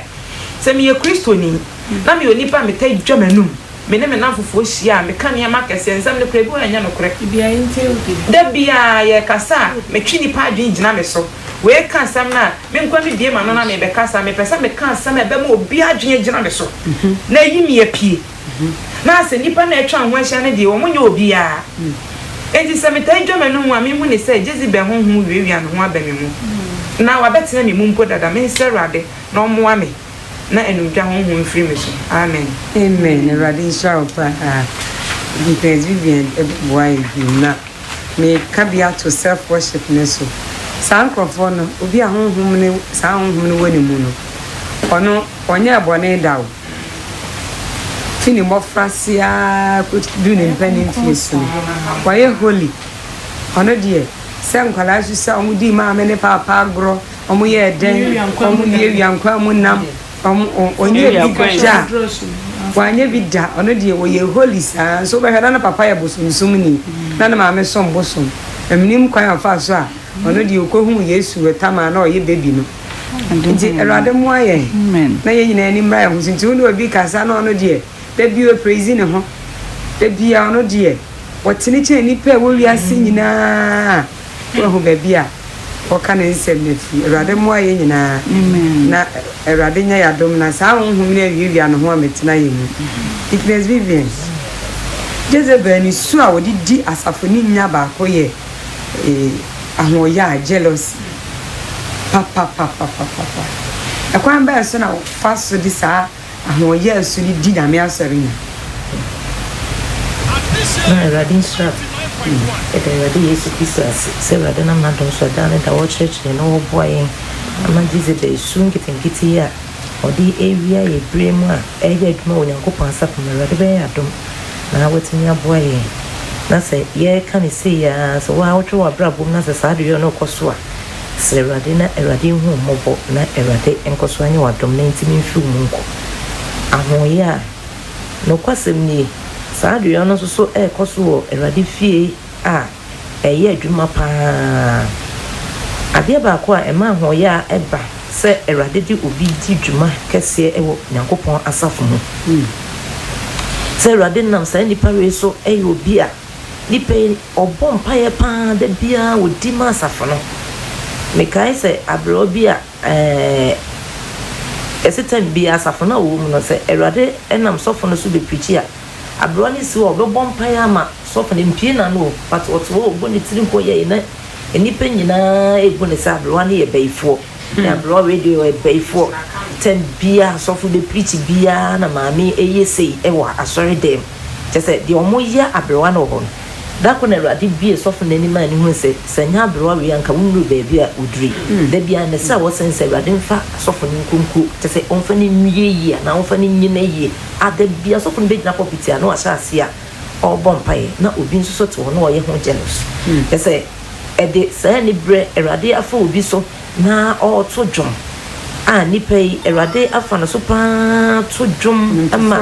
sɛ me yɛ kristoni na me yɛ onipa a me taa dwa m'anum Me ne me nnamfo foɔ hyia a, meka nneɛma akɛseɛ, nsɛm no koraa, ebi wɔ hɔ a ɛnyɛ nokorɛ.
Da biara a
yɛrekasa a, metwe nnipa adwene gyina me so. Wei reka asɛm no a, me nkoa mebue m'ano na merebɛkasa. Mepɛ sɛ meka asɛm a ɛbɛma obi adwene agyina me so, na ayi me apue. Na asɛ nnipa no a atwa me ho ahyia no deɛ, wɔnyɛ obiara. Enti sɛ metaa dwa m'ano mu a, mehu no sɛ Jezebel honhom rewiawia ne ho aba me mu, na wabɛtena me mu mpo dada. Mensrɛ Awurade na ɔmmoa me. na animtwa honhom mfiri me so. Amen. Amen Awurade
nhyira wo paa Deaconess Vivian ɛbɛboa yɛ bio na meka bi ato self worship no so saa nkorɔfoɔ no obi a honhom no saa honhom no wɔ ne mu no ɔno ɔnyɛɛ bɔne da o fi ne mmɔfra se ara kɔdu ne mpanin fie so no wayɛ holy ɔno deɛ sɛ nkwadaa su sɛ wɔn di maame ne paapa agorɔ Ɔmo yɛɛ dɛn? Ɔmo yɛ wia nkwaa mu nam. Ɔmo o, ɔnyɛɛ bi da a. Wanyɛ bi da. Ɔno deɛ ɔyɛ holy saa. Nso wobɛhwɛ na ne papa yɛ bosomsomni. Na ne maame som bosom. Mennim kwan a ɔfaa so a ɔno deɛ ɔkɔhuu Yesu wɔ tam a na ɔyɛ baby no. Nti Awurade mmoa yɛn na yɛn nyinaa ani mmra yɛn ho so. Nti wone obi kasa na ɔno deɛ da biara ɔpraise ne ho. Da biara ɔno deɛ ɔtene kyɛn nnipa a ɛwɔ wiase nyinaa. Woahu baabi a wɔka ne nsɛm no afiri. Awurade mmoa yɛn nyinaa na Awurade nyɛ y'adom na saa honhom no awiawia ne ho amɛtena yɛn mu. Deaconess Vivian, Jezebel ne su a ɔde di asafo no nya baako yɛ eh, ahoɔyaa, jealousy, papapapapapa. Ɛkwan bɛn so na ɔfa so de saa ahoɔyaa su de di Nyame asɔre
mu. Na Awurade nhyira da Awurade Yesu Kristo ase sɛ Awurade nam n'adom so daa ne da ɔrekyerɛkyerɛ na ɔreboa yɛn ama Jezebel su nketenkete yi a ɔde awia yɛ bere mu a ɛreyɛ adwuma wɔ Onyankopɔn asafo mu. Awurade bɛyɛ yɛn adom na watumi aboa yɛn. Na sɛ yɛreka no sei ara, sɛ wo ara wotwe w'abrabɔ mu na sɛ saa adeyɔ no rekɔ so a, Srɛ Awurade na Awurade nhu wo mmɔbɔ na Awurade nkɔ so anyɛ wo adom na ntimi mfiri wo mu nkɔ. Ahoɔyɛ a. Nokwasɛm nie, saa adoyɔ no nso so rekɔ so wɔ Awurade fie a ɛyɛ adwuma pa ara. Adeɛ baako a ɛma ahoɔyɛ a ɛba sɛ Awurade de obi di dwuma kɛseɛ wɔ Onyankopɔn asafo mu sɛ Awurade nam saa nnipa wei so yɛ obi a Nnipa yi, wɔbɔ mpaeɛ pa ara da biara, wɔdi ma asafo no. Mekae sɛ aberɛ bi a, ɛɛ, ɛsɛ tam bi asafo no a wɔwɔ mu no, sɛ Awurade nam sɔfo no so bɛpirikyi a, aberɛ no si hɔ a, wɔbɛbɔ mpaeɛ ama sɔfo no, mpue n'ano o, but ɔte hɔ a, ɔbɔ ne tiri nko ara yɛi, na nnipa nyinaa rebu no sɛ aberewa no yɛ bayifoɔ. Yɛ aberewa wei deɛ ɔyɛ bayifoɔ. Tam biara, sɔfo bɛpirikyi biara na maame yi yɛ sei wɔ asɔre dan mu. Kyerɛ sɛ, deɛ wɔyɛ aberewa no wɔ hɔ no, da koro na Awurade buee sɔfo no ani maa no hunuu sɛ, sɛ ɛnyɛ aberewa wei a, anka wonnuru baabi a wɔdurui. Da biara mɛsrɛ wɔ sɛ, sɛ Awurade mfa sɔfo no nkonkuo, kyerɛ sɛ, ɔmfa no nwie yie anaa ɔmfa no nnyina yie a, da biara sɔfo no bɛgyina pulpit a na wahyɛ aseɛ a ɔrebɔ mpaeɛ, na obi nso so te hɔ na ɔyɛ ho jealous. Kyerɛ sɛ, ɛde saa aniberɛ Awurade afa obi so Na ɔreto dwom. A nipa yi awurade afa no so paa to dwom ma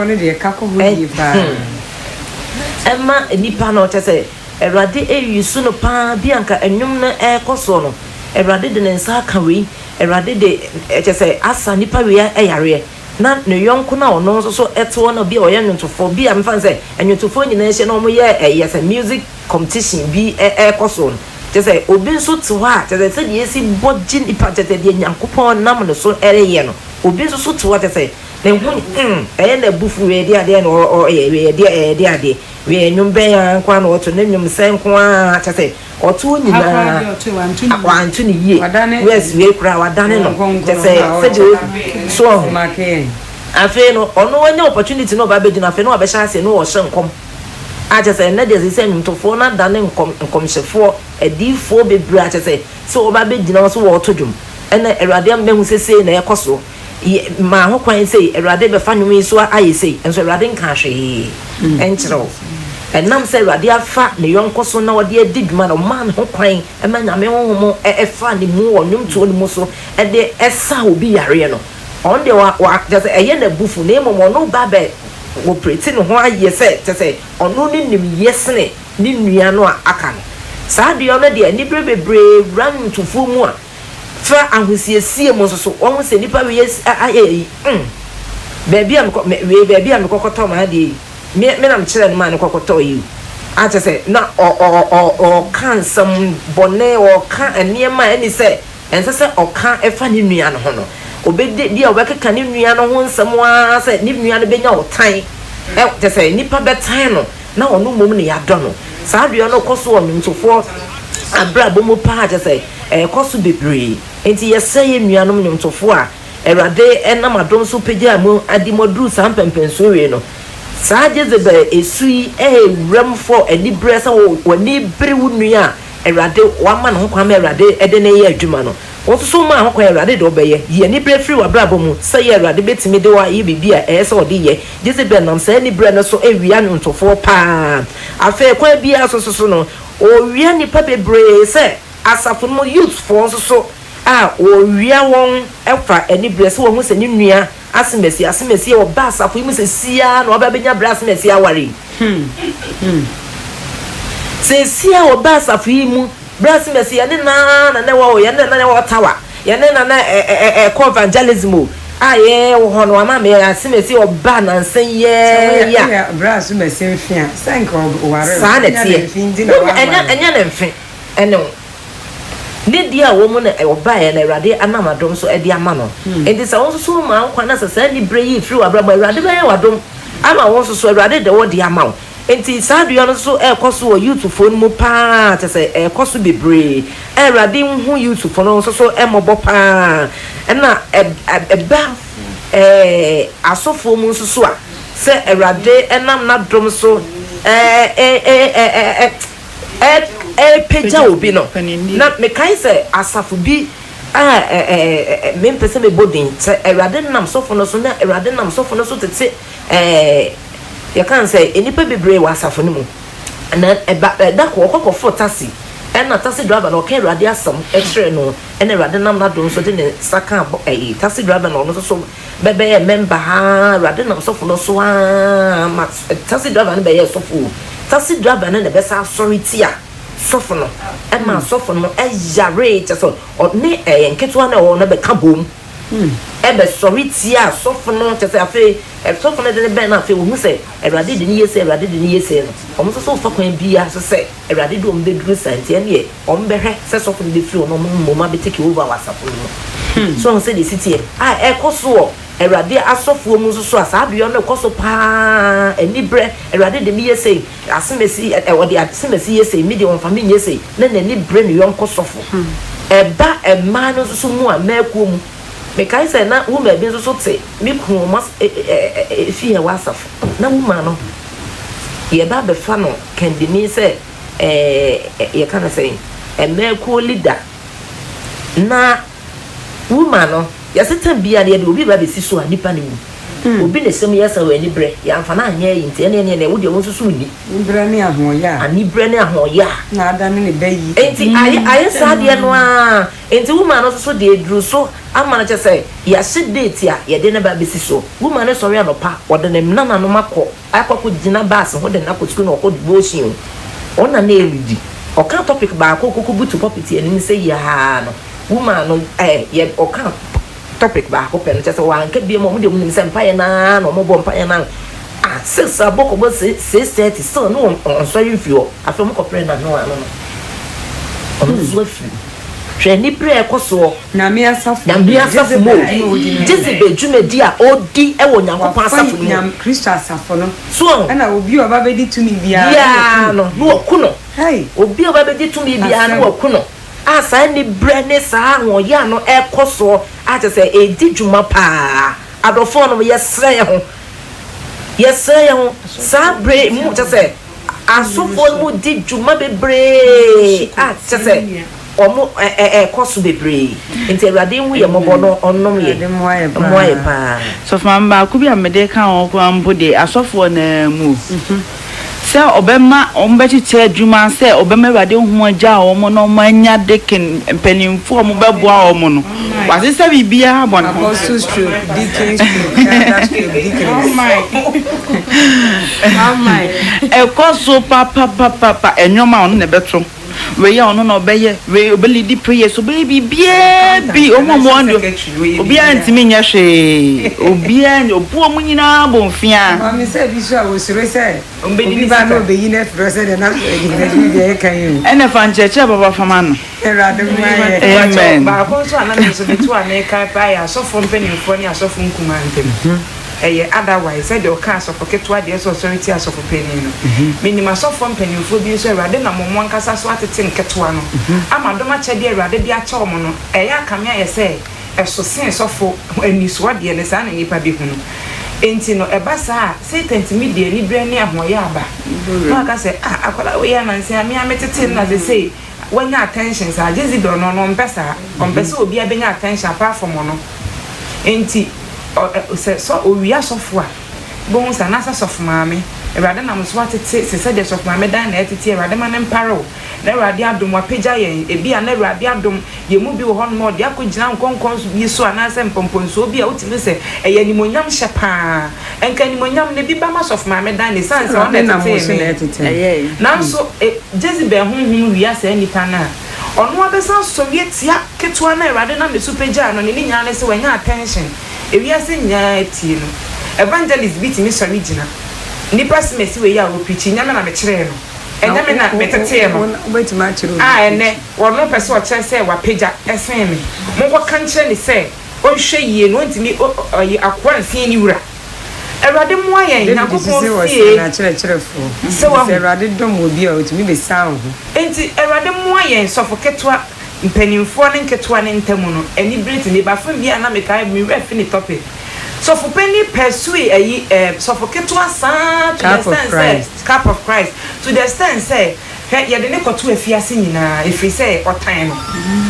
ɛma nipa no kyɛ sɛ awurade ɛyisu no paa bi anka ɛnwom no ɛkɔ soɔ no awurade de ne nsa aka wei awurade de kyɛ sɛ asa nipa wei ɛyareɛ. na ne yɔnko no a ɔno nso so te hɔ no, bi a ɔyɛ nnwontofoɔ, bi a mefa no sɛ nnwontofoɔ nyinaa ahyia na wɔyɛ ɛyɛ sɛ music competition bi ɛrekɔ so no, kyerɛ sɛ obi nso te hɔ a, kyerɛ sɛ sɛdeɛ yɛsi bɔ gye nnipa, kyerɛ sɛ deɛ Nyankopɔn nam ne so reyɛ no, obi nso so te hɔ a, kyerɛ sɛ ne ho mm, ɛyɛ no abufuo, wei ɛdeɛ adeɛ na ɔyɛ, wei ɛdeɛ ɛyɛ ɛdeɛ adeɛ, wei nnwom bɛn ara nko ara na ɔto, ne nnwom sɛn nko ara, kyerɛ sɛ Ɔtoo nyinaa, wanto no yie. Yes, wei koraa wadane no. Kyɛ sɛ sɛdeɛ ɔhu. So ɔho?
Afei no,
ɔno wanya opportunity na ɔba abɛgyina afei na wabɛhyɛ aseɛ na ɔrehyɛ nkɔm. A kyɛ sɛ ɛnnɛ deɛ seesei nnwomtofoɔ no adane nkɔm nkɔmhyɛfoɔ, adiyifoɔ bebree a kyɛ sɛ sɛ wɔba abɛgyina hɔ sɛ wɔreto dwom. Ɛnna Awurade ama mahu sɛ sei na ɛrekɔ soɔ. yɛ, maa ho kwan sɛ, Awurade bɛfa nnwom yi so ayɛ sei, nso Awurade nkaa hwee nkyerɛw. Ɛnam sɛ Awurade afa ne yɔnko so na ɔde adi dwuma no, ɔmaa no ho kwan ma Nyame honhom faa ne mu wɔ nnwomtoɔ no mu so de saa obi yareɛ no. Ɔno deɛ wa, wa, kyerɛ sɛ, ɛyɛ n'abufuo, na mmom ɔno ba bɛ operate ne ho ayɛ sɛ, kyerɛ sɛ, ɔno ne nim yɛ sene ne nua no a aka no. Saa adeɛ no de anibere bebree wura nnwomtofoɔ mu a. Fa ahosiesie mu nso so, wahu sɛ nnipa wei asi, a, ayɛ ayi, mm, baabi a mekɔ, me, wei, baabi a mekɔ kɔtɔ m'adeɛ yi, me, me na mekyerɛɛ no maa no kɔ kɔtɔeɛ o. A, kyerɛ sɛ, na ɔ, ɔ, ɔ, ɔ, ɔreka nsɛm bɔne, ɔreka nneɛma a ɛnni sɛ ɛnsɛ sɛ ɔka fa ne nua no ho no. Ɔbɛdi, bia ɔbɛkeka ne nua no ho nsɛm ara sɛ ne nua no bɛnya ɔtan, ɛ, kyerɛ sɛ, nnipa bɛtan no. na ɔno mmom na yɛadɔ no. Saa dua no kɔ so wɔ nnwomtofoɔ abrabɔ mu paa, kyerɛ sɛ, ɛrekɔ so bebree. Enti yɛsrɛ yɛn nuanom nnwomtofoɔ a Awurade nam adom so pagyaa mo de mo aduru saa mpɛnpɛnsoɔ wei no, saa Jezebel su yi yɛ wuram fɔ, aniberɛ, sɛ w'ani bere wo nua a Awurade wama no ho kwan ma Awurade de no reyɛ adwuma no. Wɔsusuw maa ho kwan a Awurade de wo bɛyɛ. Yi anibere firi w'abrabɔ mu sɛ ɛyɛ a Awurade betumi de wo ayɛ biribi a ɛyɛ sɛ ɔde yɛ. Jezebel nam saa anibere no so wia nnwontofoɔ pa ara. Afei kwan biara so nso so no, ɔrewia nnipa bebree sɛ asafo no mu youthfoɔ nso so a ɔrewia wɔn fa anibere sɛ wɔahu sɛ ne nua Asemasi, Asemasi a ɔba asafo yi mu seesei ara na waba abɛnya bere a Asemasi aware yi. Seesei a ɔba asafo yi mu, bere a Asemasi yɛne no ara na na ɛwɔ hɔ, yɛne no na na ɛwɔ Ottawa, yɛne no na ɛ ɛ ɛ ɛkɔ evangelism o, a yɛwɔ hɔ no, wama me Asemasi a ɔba nnansa yi ara yi a.
Saa na ɛteɛ.
Wohu, ɛnyɛ ɛnyɛ ne mfe. ɛne wo. Ne die a wɔn na ɔbaeɛ no Awurade nam adom so de ama no. Enti sɛ wo nso so womaa wo kwan na sɛ saa anibere yi firi w'abrabɔ a, Awurade bɛyɛ w'adom ama wo nso so. Awurade de wo deɛ ama wo. Enti saa aduan no nso ɛrekɔ so wɔ youthfoɔ no mu pa ara, kyerɛ sɛ ɛrekɔ so bebree. Awurade nhu youthfoɔ no nso so mmɔbɔ pa ara. Na ɛba asɔfoɔ mu nso so a, sɛ Awurade nam n'adom so repagya obi no, na mekae sɛ asafo bi a mempɛ sɛ mebɔ din, sɛ Awurade nam sɔfo no so, na Awurade nam sɔfo no so tete yɛka no sɛ nnipa bebree wɔ asafo no mu, na ɛba da koro ɔkɔ kɔforo tase, ɛna tase driver no ɔka Awurade asɛm kyerɛ no, ɛna Awurade nam n'adom so de ne nsa kaa tase driver no, ɔno nso so. bɛbɛyɛ mɛmba ha ara, Awurade nam sɔfo no so ara ma taxi driver no bɛyɛɛ sɔfo o. Taxi driver no na ɛbɛsan asɔre tia sɔfo no ma sɔfo no yaree, kyerɛ sɛ ɔne ɛyɛ nketewa no a ɛwɔ hɔ no bɛka boom bɛsɔre tiaa sɔfo no, kyerɛ sɛ afei sɔfo no de no bɛn no a afei wɔhu sɛ Awurade de no yɛ sei, Awurade de no yɛ sei no, wɔn nso so refa kwan biara so sɛ. Awurade de wɔn bɛduru saa nti, ɛnneɛ wɔbɛhwɛ sɛ sɔfo no bɛfiri wɔn mmom abɛte Kehova wɔ asafo no mu. So woahu sɛdeɛ ɛsi teɛ? A Ɛkɔ so wɔ Awurade asɔfoɔ mu nso so a saa beaeɛ no ɛkɔ so pa ara, aniberɛ, Awurade de me yɛ sei, asɛmasi, ɛ, ɛ, ɔde asɛmasi yɛ sei, me deɛ ɔmfa me nyɛ sei, na n'ani bere ne yɔnko sɔfo. Ɛba mmaa no nso so mu a, mmaa akuo mu. Mekae sɛ na Woman bi nso so te me kunu wɔn as, ɛ, ɛ, ɛ, ɛ, ɛ, fie a ɛwɔ asafo, na Woman no, yɛba abɛfa no. Can the mean sɛ ɛɛ yɛka no sɛn mmaa kuo leader na woman no yɛse tam biaa no yɛde obi ba bɛsi so a nipa no wu obi ne sɛm yɛsa wɔ ani berɛ yɛanfa no anyɛ ayi nti ɛneɛ neɛ neɛ wodeɛ wo nso so nni aniberɛ ne ahooyɛ
a aniberɛ ne ahooyɛ
a na adane ne ba
yi nti ayɛ ayɛ
saa deɛ no aa nti woman no nso so deɛ aduru so ama no kyɛ sɛ yɛahye date a yɛde no ba bɛsi so woman no sɔre anɔpa ɔde ne mnananom akɔ Ɔkɔ kɔ gyina bus ho de no akɔ sukuu na ɔkɔ devotion o, ɔna na ɛredi, ɔka topic baako ɔkɔ kɔ butu pulpit anim sɛ yie haa no, woman no ɛ yɛ ɔka topic baako pɛ no kyɛ sɛ wanka biom ɔmo deɛ ɔmo nim sɛ mpaeɛ no ara na ɔmo bɔ mpaeɛ no ara ah six abɔ kɔ bɔ si six thirty still no wɔn ɔnsɔre mfiri hɔ afei ɔmo kɔ pere n'ano ano no ɔno nso afiri hwɛ aniberɛ ɛkɔ soɔ. Nyame asafo
mu o,
Jezebel dwumadi a ɔredi wɔ Onyankopɔn asafo no mu. Wɔafa Kristo asafo no.
So wɔn. Ɛna obi a
ɔba bɛdi
tumi biara. Biara no, na wɔku
no. Hei. Obi a
ɔba bɛdi tumi
biara no, wɔku no. A saa aniberɛ ne saa ahoɔyaa no rekɔ soɔ a, kyerɛ sɛ ɛredi dwuma pa ara. Adɔfoɔnom, yɛsrɛ yɛn ho. Yɛsrɛ yɛn ho. Saa berɛ mu, kyerɛ sɛ Asɔfoɔ no mu di dwuma bebree a kyɛ sɛ wɔn ɛkɔ so bebree nti Awurade nhu yɛn mmɔbɔ na ɔnnom yɛn. Ɛmoa yɛn paa. Sɔfo maame baako
bi a me de ka ho koraa mpo deɛ asɔfoɔ no ara mu o, sɛ ɔbɛma wɔn bɛkyekyɛ adwuma sɛ ɔbɛma Awurade ahom agya wɔn na wɔn anya deacon mpaninfoɔ a wɔn bɛboa wɔn no, Wasesa biribiara abɔ ne ho. Apostle stroke
deacon stroke elder
stroke deaconess. Ɛkɔ so papapapapa. Ɛnneɛma a ɔno na ɛbɛto. Wei a ɔno na ɔbɛyɛ. Wei ɔbɛlidi prayers. Ɔbɛyɛ biribiara bi. Wɔn a wɔwɔ ɔno deɛ obiara ntumi nyɛ hwee. Obiara obu wɔn nyinaa bɔ mfiaa. Maame sɛ ebi nso a
wɔsuro sɛ obi ba na ɔbɛyi no afiri hɔ sɛdeɛ na ɛdi hene adwuma bi a yɛka yi o. Ɛnna fa nkyerɛkyerɛ papa
fa ma no. Awurade mma
yɛn. Amen. Baako nso
a na me nso
meto a meka paa yɛ asɔfo mpanimfoɔ ne asɔfo nkumaa ntam. Ɛyɛ otherwise sɛdeɛ ɔka asɔfo ketewa deɛ sɛ ɔsɔre tia asɔfo panin no. Menim asɔfoɔ mpanimfoɔ bi nso Awurade nam wɔn ankasa so atete nketewa no ama dom akyɛdeɛ a Awurade de akyɛ wɔn no ɛyɛ akame ayɛ sɛ ɛso sen sɔfo anisoɔ deɛ ne saa na nnipa bɛhunu. Enti no ɛba saa a Satan tumi de aniberɛ ne ahoɔyɛ aba na waka sɛ ah akwadaa wei ananse a me ara metetee no na sesei wanya attention saa Jezebel no ɔno ɔmpɛ saa ɔmpɛ sɛ obia bɛnya attention apart from ɔno nti ɔ ɛ sɛ sɔ owia sɔfo a wobɛhu saa anaa sɛ sɔfo maame awurade nam so atete sɛ sɛdeɛ sɔfo maame dan na ɛtete awurade ma no mpare wo na awurade adom wapagya yɛn ebia na awurade adom Yɛn mu bi wɔ hɔnom a wɔde akɔgyina nkɔnkɔnso bi so anaasɛ mpɔmpɔnsuo bi a wotumi hu sɛ ɛyɛ animuonyamhyɛ pa ara. Anka animuonyam no bi ba m'asɔfo maame dan no ɛsiane sɛ ɔno na ɛtetee me. Nanso Jezebel honhom wia saa nipa no a, ɔno ara bɛsan asɔre atia ketewa no a Awurade nam ne so pagyaa no no. Ne nyinaa ne sɛ wanya attention. Ewiase nyinaa retie no. Evangelist bi tumi sɔre gyina nipa simasiwa yi a ɔrepreachi, ɛnyɛ me na mekyerɛɛ no, ɛnyɛ me na metetee no, a ɛnnɛ, Ɔno pɛ sɛ ɔkyerɛ sɛ wapagya sen me. Monkɔka nkyerɛ no sɛ ɔnhwɛ yie na ɔntumi ɔ ɔyi akoa nsie ne wura. Awurade mmoa yɛn. Dawid Nyankopɔn susui wɔ sie. Sin akyerɛkyerɛfoɔ, Sɛ efiri sɛ wahu. Awurade dɔm obi a ɔtumi bɛsa wo ho. Enti Awurade mmoa yɛn. Sɔfo ketewa, mpaninfoɔ ne nketewa no ntamu no, anibere tumi ba. Fam bi a na mekae, me werɛ fi ne tɔpe. Sɔfo panin pɛsuee ayi, ɛɛ, sɔfo ketewa saa to the Cup of extent sɛ, Christ. Cup of Christ, to the extent sɛ, Hwɛ, yɛde no kɔto afiase nyinaa, ɛfiri sɛ ɔtan no.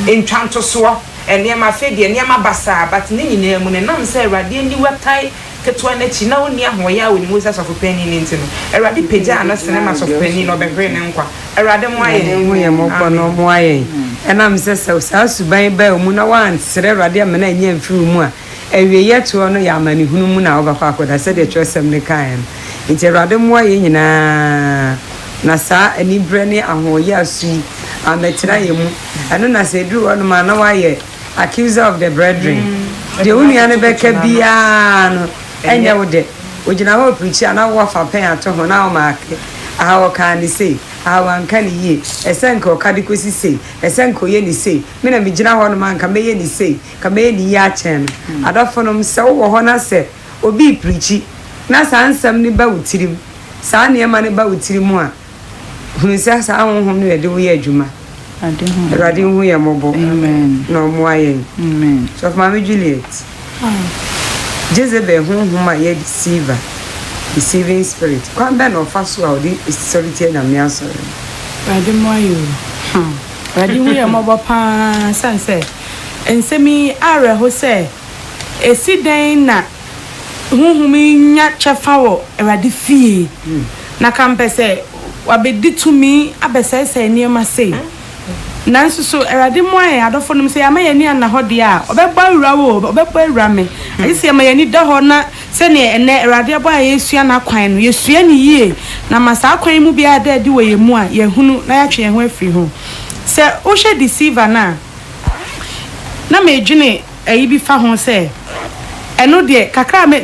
Ntwantosoɔ, nneɛma fɛdie, nneɛma basaa, but ne nyinaa mu no, ɛnam sɛ Awurade aniwa tae ketewa no akyi, na ɔnni ahoɔyɛ a ɔnim wɔ sɛ asɔfopanin no nti no, Awurade pagyaa no sene ma asɔfopanin no, ɔbɛhweree ne nkwa. Awurade mmoa yɛn. Awurade hu yɛn mmɔbɔ na ɔmmoa
yɛn. Ɛnam sɛ sɛ saa suban baa wo mu na woansrɛ Awurade amena annya amfiri wo mu a, Awieeɛ toɔ no yɛ amanehunu mu na wobɛkɔ akɔda, sɛdeɛ twerɛsɛm no kaeɛ no. Enti Awurade mmoa yɛn nyinaa na saa aniberɛ ne ahoɔyaa su yi ammɛtena yɛn mu. Ɛno na sɛ ɛduru hɔ nom a na woayɛ accuser of the brethren. Deɛ wo nua no bɛka biara no, ɛnyɛ wo dɛ. Ɔgyina hɔ reprikyi a, na wo wafa pɛn ato ho na womaake. Aha ɔkaa no sei, aha wanka no yie, ɛsɛ anka ɔka de kɔsi sei, ɛsɛ anka ɔyɛ no sei, me na megyina hɔ nom a anka mɛyɛ no sei. Ka mɛyɛ ne yie akyɛn no. Adɔfo nom, sɛ wowɔ hɔ na sɛ obi reprikyi na saa nsɛm no ba wo tirim, saa nneɛma no ba wo tirim a, hunu sɛ saa honhom no na ɛde wo yɛ adwuma. Awurade nhu yɛn mmɔbɔ na ɔmmoa yɛn. Sɔfo Maame Juliet, Jezebel honhom a ɛyɛ deceiver, deceiving spirit, kwan bɛn na ɔfa so a ɔde sɔre tia Nyame asɔre no? Awurade
mmoa yɛn o. Awurade hu yɛn mmɔbɔ pa ara esiane sɛ nsɛm yi awerɛho sɛ, Esi dɛn na honhom yi nya kyɛfa wɔ Awurade fie? Na ka mpɛ sɛ wɔabedi tumi abɛsɛesɛe nneɛma sei. Nanso so Awurade mmoa yɛn adɔfonom sɛ yɛama yɛn ani anna hɔ deɛ a, ɔbɛbɔ awura wo o, ɔbɛbɔ awura me. Agye sɛ yɛma yɛn ani da hɔ na Sɛdeɛ ɛnnɛ Awurade abɔ a yɛresua N'akwan no, yɛsua no yie, na ma saa akwan yi mu biara ada adi wɔ yɛn mu a, yɛahunu na yɛatwe yɛn ho afiri ho. Sɛ wohwɛ Deceiver no a, na meredwene ayi bi fa ho sɛ, ɛno deɛ, kakra a me,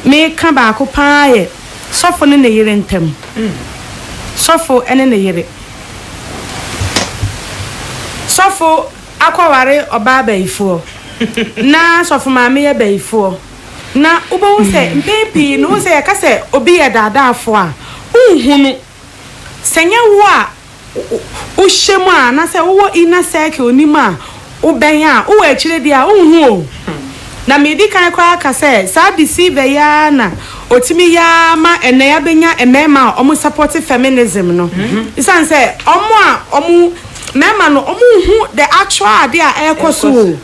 mereka baako pa ara yɛ sɔfo ne ne yere ntam. Sɔfo ne ne yere. Sɔfo akɔware ɔbaa bayifoɔ, na sɔfomaame yɛ bayifoɔ. Na wobɛhu sɛ mpɛn pii no, wohu sɛ yɛka sɛ obi yɛ daadaafo a, wonhu no. Sɛ nyɛ wo a wohyɛ mu a anaasɛ wowɔ inner circle no mu a wobɛn a, wowɔ akyire deɛ a, wonhu o. Na medi kan koraa aka sɛ saa deceiver yi ara na ɔtumi yɛ ara ma ɛnnɛ yɛabɛnya mmarima a wɔsapɔte feminism no. Ɛsiane sɛ wɔn a wɔn, mmarima no, wɔnhu the actual adeɛ a ɛrekɔ so o.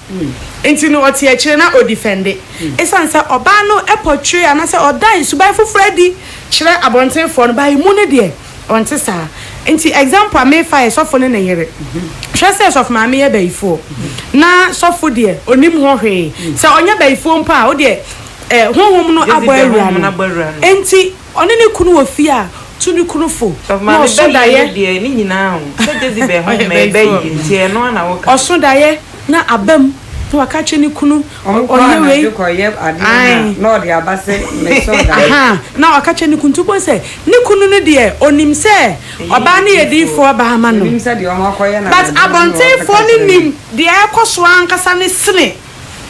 Ntsi no ɔtse ekyir na odifɛnde. Esian sɛ ɔbaa no pɔtwee anasɛ ɔdaa suban fofor adi kyerɛ abɔntsenfoɔ no, bae mu no deɛ ɔnntse saa. Ntsi example a meefa yɛ sɔfo ne ne yere. Hwɛ sɛ sɔfo maame yɛ bayifoɔ na sɔfo deɛ ɔnnim ho hwee. Sɛ ɔnnyɛ bayifoɔ mpo a, wodeɛ eh, honhom no abɔ awura no. Ntsi ɔne ne kunu wɔ fie a, tu ne kunu fo na ɔso
dayɛ. Ɔso dayɛ. Na
aba mu na waka akyerɛ ne kunu. Wɔn kɔ anadwo kɔ
yɛ adeɛ no a na ɔde aba sɛ mesɔɔ da. Ahaa na waka kyerɛ ne kunu
nti wo bɔ sɛ ne kunu no deɛ ɔnim sɛ ɔbaa no yɛ diifoɔ aba ama no
but abɔntenfoɔ
no nim deɛ ɛrekɔ so ankasa ne sene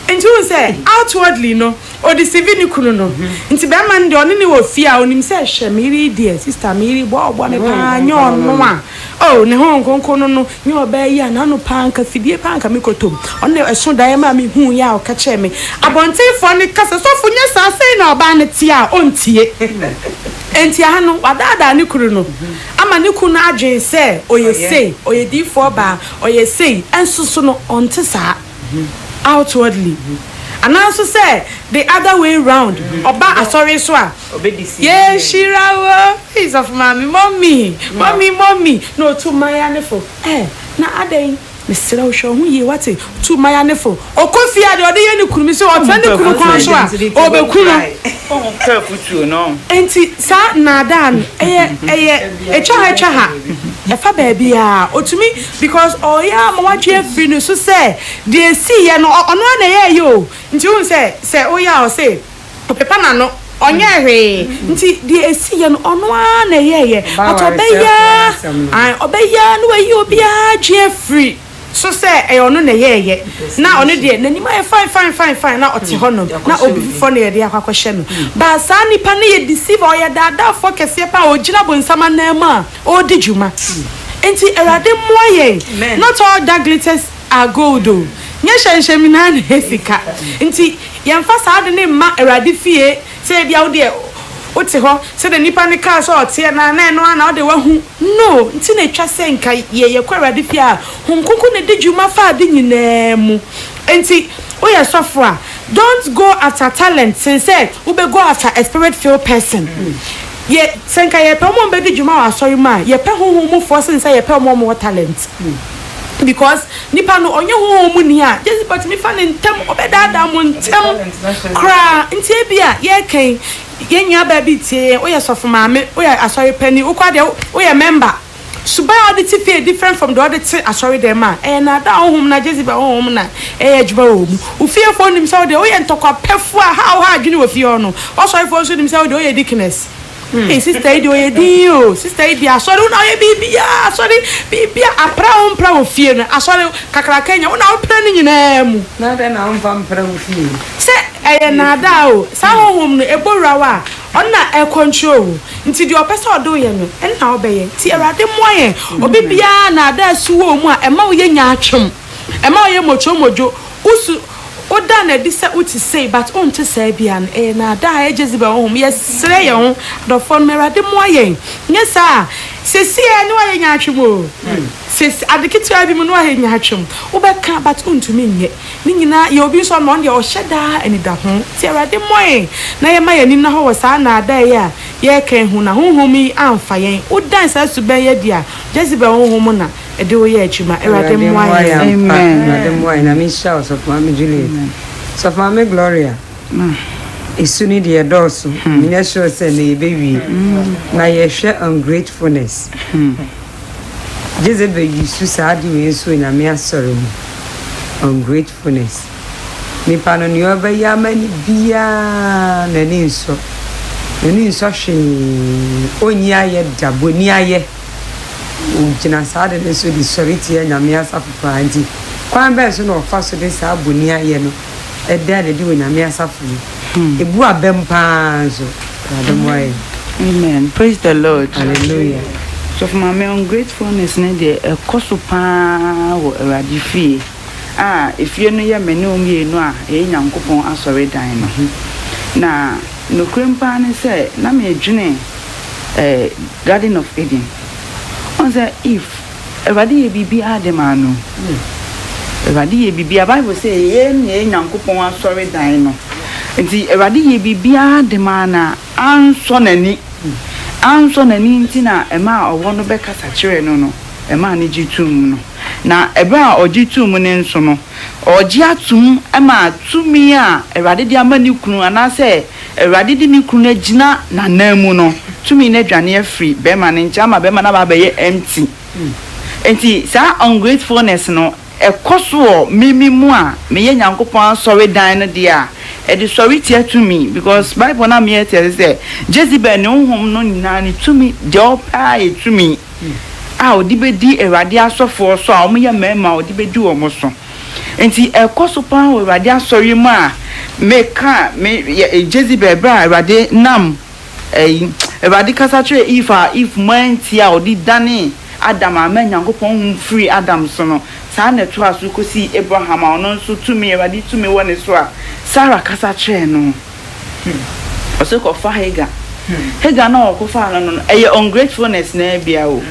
nti wohu sɛ outwardly no ɔdeceive ne kunu no nti barima no deɛ ɔne ne wɔ fie a ɔnim sɛ hwɛ me yere yi deɛ sister me yere yi bɔ ɔbɔ ne paa nyɛ ɔno a oh ne honhom kronkron no no Nyɛ ɔbaa yi a n'ano paa anka fidie paa anka me kɔtɔ mu ɔno na ɛso daeɛ maa me huu yɛ a ɔka kyɛɛ me abɔnten foɔ no ka sɛ sɔfo nyɛ saa sei na ɔbaa no teɛ a ɔntie ɛnti aha no wadaadaa ne kuru no ama ne kunu adwen sɛ ɔyɛ sei ɔyɛ diifoɔ baa ɔyɛ sei ɛnso so no ɔnte saa outwardly anaa nso sɛ the other way round ɔba asɔre so a Yɛnhyira wo ei sɔfo maame mummy mummy mummy na ɔtu mmaayewa no fo eh na adɛn mesrɛ wo hwɛ wo ho yie wate ɔtu mmaayewa no fo ɔkɔ fie a deɛ ɔde yɛ ne kunu me sɛ ɔtena ne kunu kɔn so a ɔbɛku no
enti saa
nnaadaa no ɛyɛ ɛyɛ ɛtwa ha ɛtwa ha ɛfa baabiara ɔtumi because ɔyɛ a ma watwe afiri ne so sɛ deɛ ɛsiiɛ no ɔ- ɔno ara na ɛyɛɛyɛ o nti wohu sɛ sɛ woyɛ a ɔse Ɔpepa n'ano, ɔnyɛɛ hwee. Nti deɛ ɛsiiɛ no, ɔno ara na ɛyɛeɛ. But ɔbɛyɛ ara, ae, ɔbɛyɛ ara na wayi obiara adwene afiri so sɛ ɛyɛ ɔno na ɛyɛeɛ. Na ɔno deɛ, n'anim ayɛ fine fine fine fine, na ɔte hɔnom, na obi foforɔ na yɛde akɔ akɔhyɛ no. But saa nipa no yɛ deceiver, ɔyɛ ɔdaadaafoɔ kɛseɛ pa ara, ɔgyina bonsam ananmu a ɔredi dwuma. Nti Awurade mmoa yɛn, not all that glitters. A gold o, nyɛ hyɛnhyɛm nyinaa na ɛyɛ sika. Nti yɛmfa saa ade no mma Awurade fie sɛ ebia wo deɛ wote hɔ sɛdeɛ nnipa no kaa sɛ ɔteɛ no ara na ɛno ara na wode wahu. No, nti na ɛtwa sɛ nka yɛ yɛkɔ Awurade fie a Hom Kronkron na ɛdi dwuma fa ade nyinaa mu. Nti woyɛ sɔfo a, don't go after talent sen sɛ wobɛ go after a spirit filled person. Yɛ sɛ nka yɛpɛ wɔn a wɔbɛdi dwuma wɔ asɔre mu a, yɛpɛ honhom mufoɔ sen sɛ yɛpɛ wɔn a wɔwɔ talent. Because nipa no ɔnyɛ honhom mu ni a Jezebel tumi fa no ntɛm, ɔbɛdaadaa mo ntɛm koraa. Nti ebia yɛreka yi, yɛn nuabaa bi retie yɛn, woyɛ sɔfo maame, woyɛ asɔre panin, wokɔ adeɛ, wo, woyɛ member. Suban a wode te fie yɛ different from deɛ wode te asɔredɛm a, ɛyɛ nnaadaa honhom na Jezebel honhom na ɛyɛ adwuma wɔ wo mu. Wo fiefoɔ nim sɛ wo deɛ woyɛ ntɔkwapɛfoɔ a, ha a woha adwene wɔ fie hɔ no, w'asɔrefoɔ nso nim sɛ wo deɛ woyɛ deaconess. Ei sister yi deɛ ɔyɛ din yi o sister yi deɛ asɔre wo na woyɛ biribiara asɔre biribiara apra wo mpra wɔ fie no asɔre kakraka nya wo na wopra ne nyinaa mu. Na adɛn na womfa mpra
wo fie. Sɛ ɛyɛ
naadaa o saa honhom no ɛbɔ wura wo a ɔno na ɛ control wo nti deɛ ɔpɛ sɛ ɔde wo yɛ no ɛno na wobɛyɛ nti Awurade mmoa yɛn obi biara naadaa su wɔ wo mu a ɛma woyɛ nyaatwom ɛma woyɛ motwomodwo wo su Woda no adi sɛ wote sei but wonte saa biara no ɛyɛ naadaa ɛyɛ Jezebel honhom yɛsrɛ yɛn ho adɔfoɔ nom Awurade mmoa yɛn nyɛ saa a sesi ɛ ne wayɛ nyaatwem o sesi ade ketewa bi mu ne wayɛ nyaatwem wobɛka but wontumi nyɛ ne nyinaa yɛ obi nso ɔno ɔno deɛ ɔhyɛ daa anidaho nti Awurade mmɔ yɛn na yɛma yɛn ani nna hɔ wɔ saa naadaa yi a yɛreka yi ho na honhom yi amfa yɛn wodan saa suban yi adi a Jezebel honhom na Ɛde wo yɛ akyi ma awurade mmoa yɛn. Amen awurade
mmoa yɛn nyame nhyira wo sɔfo maame Juliet sɔfo maame Gloria esu no deɛ ɛdɔɔso menyɛ sure sɛ na yɛbɛwie na yɛhwɛ ungratefulness Jezebel yi su saa de wei nso nyame asɔre mu ungratefulness nipa no nea ɔbɛyɛ ama ne biaa n'ani nsɔ n'ani nsɔ hwee ɔnyi ayɛ da bɔni ayɛ Wogyina saa ade no so de sɔre tia Nyame asafo paa. Enti, kwan bɛn so na wɔfa so de saa bonniayɛ no da no adi wɔ Nyame asafo mu? Ebu abam paa nso. Awurade mmoa yɛn. Amen
praise the Lord. Hallelujah.
Sɔfo Maame
ungratefulness no deɛ ɛkɔ so paa wɔ Awurade fie. a efie no yɛ me ne wo mmienu a ɛyɛ Nyankopɔn asɔredan no ho. Na nokorɛm paa ne sɛ, na medwene eh, Garden of Eden. Woahu sɛ Eve, Awurade yɛ biribiara de maa no. Awurade yɛ biribiara. Bible se, Yei ne yɛyɛ Nyankopɔn asɔredan no. Nti Awurade yɛ biribiara de maa no a Ansɔ n'ani. Ansɔ n'ani nti na ɛmaa ɔwɔ no bɛkasa kyerɛɛ no no, ɛmaa no gye too mu no. Na ɛberɛ a ɔgye too mu no nso no, ɔregye atom ma tumi a Awurade de ama ne kunu anaasɛ Awurade de ne kunu no agyina n'anan mu no, tumi no adwane afiri barima no nkyɛn ama barima no aba abɛyɛ empty. Enti saa ungratefulness no, Ɛkɔ so wɔ me me mu a meyɛ Nyankopɔn asɔredan no deɛ a, ɛde sɔretia tumi because Bible no ama yɛate ase sɛ Jezebel ne honhom no nyinaa ne tumi deɛ ɔpɛ ara yɛ tumi a ɔde bɛdi Awurade asɔfoɔ so a wɔyɛ mmarima a ɔde bɛdi wɔn so. Nti ɛkɔ so paa wɔ Awurade asɔre mu a meka me yɛ Jezebel berɛ a Awurade nam Ɛyi, Awurade kasa kyerɛɛ Eve a Eve mu antie a ɔde danee Adam a ama Nyankopɔn ho firii Adam so no, saa ara na ɛtoaa so kɔsii Abraham a ɔno nso tumi, Awurade tumi wɔ ne so a Sara kasa kyerɛɛ no. Ɔse kɔfa Hagar. Hagar no a ɔkɔfaa no no, ɛyɛ ungratefulness na ɛbea o.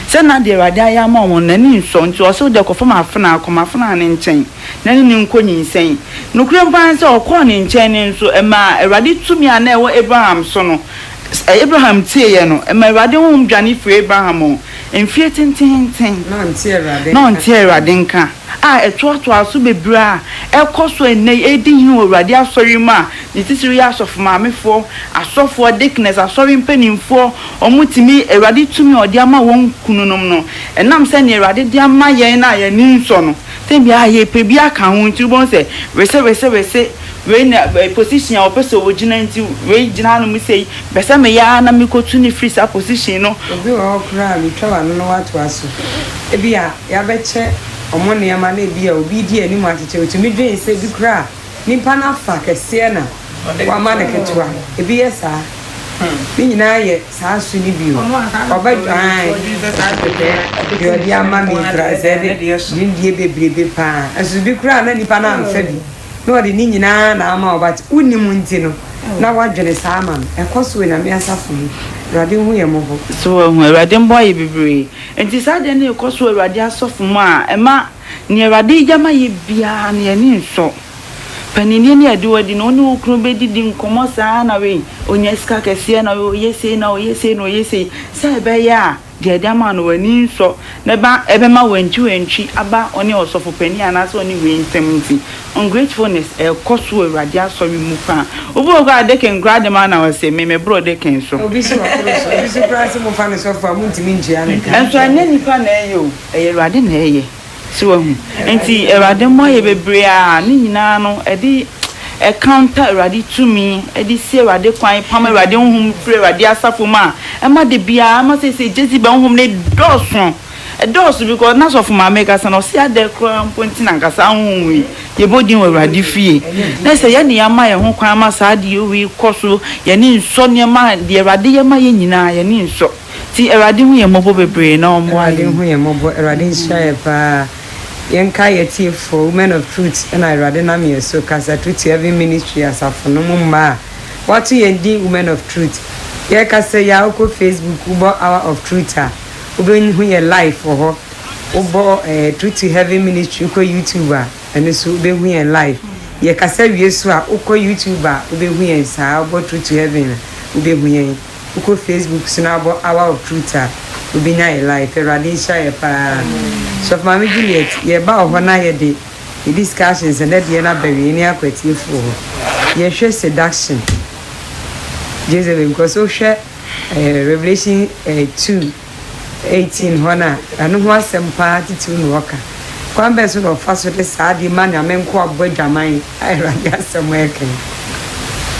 Sɛ na deɛ Awurade ayɛ ama wɔn no, n'ani nsɔ, nti ɔse wo deɛ kɔfa m'afenaa kɔ m'afenaa no nkyɛn. na ne ne nkɔ nyinsɛn. Nokorɛ mpo ara ne sɛ, ɔkɔɔ ne nkyɛn no nso, ɛmaa Awurade tumi a na ɛwɔ Abraham so no, Abraham tieeɛ no, ɛmaa Awurade honhom dwane firii Abraham hɔ, mfeɛ tenteenten, na ɔnte Awurade nka, a ɛtoatoaa so bebree a ɛkɔ so ɛnnɛ yi, ɛredi hene wɔ Awurade asɔre mu a ne titiriw yɛ asɔfomaamefoɔ, asɔfoɔ, deaconess, asɔre mpanimfoɔ, wɔtumi, Awurade tumi a ɔde ama wɔn kununom no, ɛnam sɛdeɛ Awurade de ama yɛn a yɛn ani nsɔ no. Tebea a yɛpɛ bi aka ho nti wobɛhu sɛ wese wese wese wei na position a wɔpɛ sɛ wɔgyina nti wei gyina hanom sei mepɛ sɛ meyɛ ara na mekɔtu no firi saa position no. Obi wɔ hɔ koraa a
metwa w'ano na woatoa so. Ebia yɛabɛkyɛ wɔn nneɛma na ebia obi redi anim akyekyɛ, otumi dwen sɛ bi koraa a, Nipa no afa kɛseɛ na wama no ketewa. Ebi yɛ saa. Ne nyinaa yɛ saa su no bi o. Ɔbɛ dwan deɛ ɔde ama me nkrasɛɛ ne nimdeɛ bebrebe pa ara. Nso bi koraa na nipa no amfa bi na ɔde ne nyinaa na ama wo but wonim nti no na woadwene saa ama no. Ɛkɔ so wɔ Nyame asafo mu. Awurade nhu yɛn mmɔbɔ. So wahu? Awurade mmɔbɔ
ayɛ bebree. Nti saa deɛ no rekɔ so wɔ Awurade asɔfo mu a ɛma. Nea Awurade reyɛ ama yɛn biara no, yɛn ani nsɔ. Paninnie ne ade wɔ adi no, wo ne wo kunu bɛdidi nkɔmmɔ saa na wei ɔnya sika kɛseɛ na wei ɔyɛ sei na ɔyɛ sei na ɔyɛ sei, sɛ ɛbɛyɛ a deɛ ɔde ama wo no w'ani nsɔ na ɛba ɛbɛma wantwi wantwi aba ɔne ɔsɔfopanin anaasɛ ɔne wei nsam nti, ungratefulness ɛrekɔ so wɔ Awurade asɔre mu paa. Obi wɔ hɔ koraa a deacon koraa de ma na ɔse me meboro deacon so. Obi so waforo so, obi
so koraa se momfa no sɔfo a montumi ntua no ka. Nso ɛnyɛ nnipa na
ɛyɛ o. Ɛyɛ Awurade na ɛyɛ, so wahu? Nti Awurade mmɔ ayɛ bebree a, ne nyinaa no ɛde ɛcounter Awurade tumi, ɛde si Awurade kwan, pam Awurade honhom firi Awurade asafo mu a, ɛma da biara, ɛma seesei Jezebel honhom no dɔɔso, ɛdɔɔso because na sɔfo maame rekasa no, ɔse adɛn koraa mpo nti na anka saa honhom wei, yɛbɔ din wɔ Awurade fie, na sɛ yɛn na yɛama yɛn ho kwan ma saa adeɛ wei rekɔ so, yɛn ani nsɔ nneɛma, deɛ Awurade yɛ ma yɛn nyinaa, yɛn ani nsɔ. Ti Awurade hu yɛn mmɔbɔ bebree na ɔmmoa yɛn. Awurade hu yɛn mmɔbɔ,
Awurade nhyira yɛn paa. Yɛnkae yɛn atiefoɔ, Women of Truth na Awurade nam yɛn so kasa Truth to Heaven Ministry asafo no mu mma a wɔato yɛn din Women of Truth. Yɛrekasa yi ara wokɔ Facebook wobɔ Hour of Truth a, wobɛhu yɛn live wɔ hɔ. Wobɔ eh, Truth to Heaven Ministry wokɔ YouTube a, ɛno nso wobɛhu yɛn live. Yɛkasa wie so a, wokɔ YouTube a, wobɛhu yɛn saa, wobɔ Truth to Heaven a, wobɛhu yɛn. Wokɔ Facebook so na abɔ Hour of Truth a, wobɛnya yɛ live. Awurade nhyira yɛ pa ara. Sɔfo Maame Juliet, yɛba wo hɔ na yɛde yɛ discussions ɛnnɛ deɛ no aba awiei na yɛakɔ atiefoɔ hɔ. Yɛhwɛ Seduction, Jezebel, because wohwɛ eh, Revelation eh, 2, 18 hɔ no a, ɛno ho asɛm pa ara titiriw na ɔka. Kwan bɛn so na ɔfa so de saa ade yi ma nea me nkoa bɔ adwaman a Awurade asɛm a ɛka yi?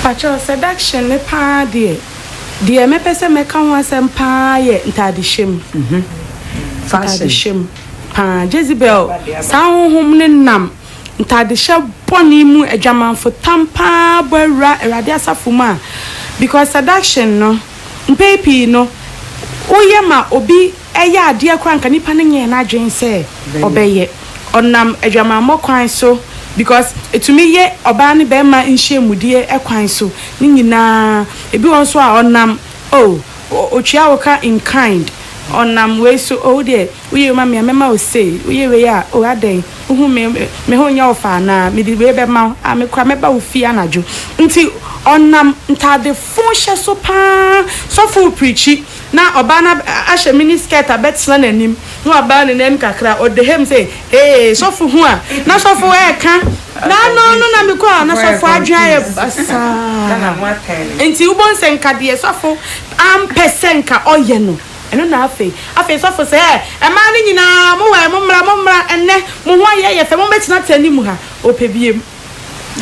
Pakyɛw, seduction no pa ara deɛ, deɛ mɛpɛ sɛ mɛka ho asɛm pa ara yɛ ntadehyɛ mu. Fashion. Ntadehyɛ mu pa ara. Jezebel, saa honhom no nam ntadehyɛ bɔne mu adwamanfotam pa ara bɔ awura Awurade asafo mu a, because seduction no, Mpɛn pii no, woyɛ ma obi yɛ adeɛ koraa a anka nipa no nyɛɛ n'adwene sɛ ɔbɛyɛ. Ɔnam adwamammɔ kwan so, because ɛtumi yɛ ɔbaa ne barima nhyiamudie kwan so, ne nyinaa. Ebi wɔ hɔ nso a ɔnam, oh, ɔtua wo ka in kind, ɔnam wei so, oh, wo deɛ woyɛ wei ma me a, mɛma wo sei, woyɛ wei a, oh, adɛn, wohu me, me ho nyɛ wo fɛ anaa, mede wei bɛma wo, ah, me koraa mɛba wo fie anadwo. Nti ɔnam ntade. Fon hyɛ so paa sɔfo preachi na ɔbaa no ahyɛ mini skirt abɛtena nanim na wabaa ne nanim kakra ɔdeham sɛ ee sɔfo hu a na sɔfo ɛɛka na ano no na mekɔ a na sɔfo adwen ayɛ basaa nti wobon sɛ nka deɛ sɔfo ampɛ sɛ nka ɔyɛ no ɛno na afei afei sɔfo sɛ ɛɛ ɛmaa no nyinaa mo wɛɛ mo mmra mo mmra ɛnɛ mo ho ayɛ yɛ fɛ mo bɛtena tɛni mu ha ɔpɛ biem.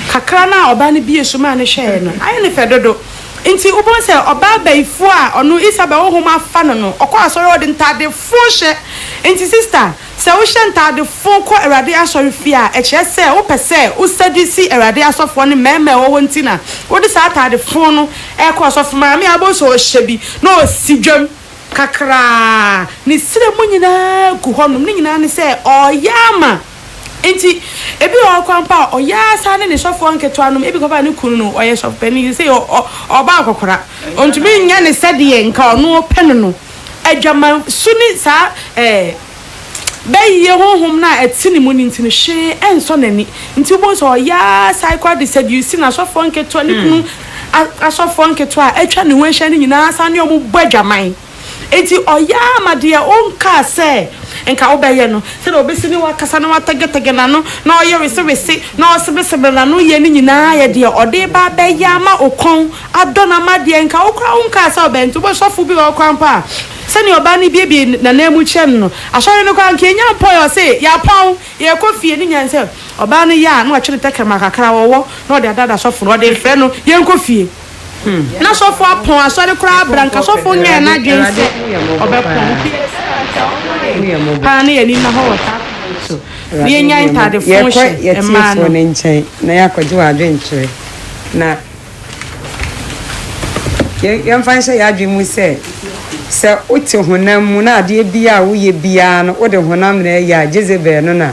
Kakra no a ɔbaa no bue so maa no hwɛe no, ayɛ no fɛ dodo. Enti wobohu sɛ ɔbaa bayifoɔ a ɔno Isabel honhom afa no no, ɔkɔ asɔre a ɔde ntade fõ hyɛ. Enti sista, sɛ wohyɛ ntade fõ kɔ Awurade asɔrefie a, ɛkyerɛ sɛ wopɛ sɛ wo sɛde si Awurade asɔfoɔ ne mmarima a ɛwɔ hɔ nti na wode saa atade fõ no rekɔ. Ɔsɔfo maame a wobohu sɛ ɔhyɛ bi na ɔsi dwam kakra a ne srɛ mu nyinaa gu hɔnom no nyinaa ne sɛ ɔreyɛ ama. Enti, ebi wɔ hɔ ɔkwan pa a ɔyɛ ara saa ne ne sɔfoɔ nketewanom, ebi koraa ne kunu no, ɔyɛ sɔfo panin, seesei ɔ, ɔ, ɔba akɔkora. Ɔntumi nyɛ no sɛdeɛ nka ɔno ɔpɛ no no. Adwaman su ne saa, ɛɛ, bɛyeyɛ honhom no a ɛte ne mu no nti no, hwee nsɔ n'ani. Enti wobɛhu sɛ ɔyɛ ara saa koraa de Sadusi no asɔfoɔ nketewa, ne kunu a, asɔfoɔ nketewa a atwa ne ho ahyia no nyinaa, sane ne wɔn bɔ adwaman. Enti ɔyɛ ara ma deɛ ɔnkaa sɛ nka wobɛyɛ no, sɛdeɛ ɔbɛsi ne wakasa na watɛgɛtɛgɛ n'ano na ɔyɛ wesewese na ɔsebersebere n'ano yɛ no nyinaa yɛ deɛ ɔde reba abɛyɛ ama wo kɔn adɔ no ama deɛ nka wo koraa wonkaa sɛ wobɛyɛ no. Nti wobɛhwɛ ɔsɔfo bi wɔ hɔ koraa mpo a, sɛdeɛ ɔbaa no biebie n'ananmu kyerɛ no no, asɔre no koraa nka ɛnya mpɔeɛ, ɔse, Yɛapɔn, yɛrekɔ fie. Ne nyinaa sɛ ɔbaa no yɛ a na ɔtwe ne tɛkrɛma kakra a ɔwɔ na ɔde adaadaa sɔfo no, ɔde refrɛ no, Yɛnkɔ fie. na sɔfo apɔn asɔre koraa abra nka sɔfo nyɛɛ n'adwene sɛ ɔbɛpɔn nti yɛ sɛ anka ɔma yɛn paa na yɛani nna hɔ wɔ saa kwan yi so na yɛnnya ntade fon hyɛ mmaa no. Yɛkɔ yɛtiefoɔ no nkyɛn na yɛakɔgye
wɔn adwenkyerɛ na yɛmfa nhyɛ yɛn adwene mu sɛ sɛ wote honam mu na adeɛ biara a woyɛ biara no wode honam na ɛyɛ a Jezebel no na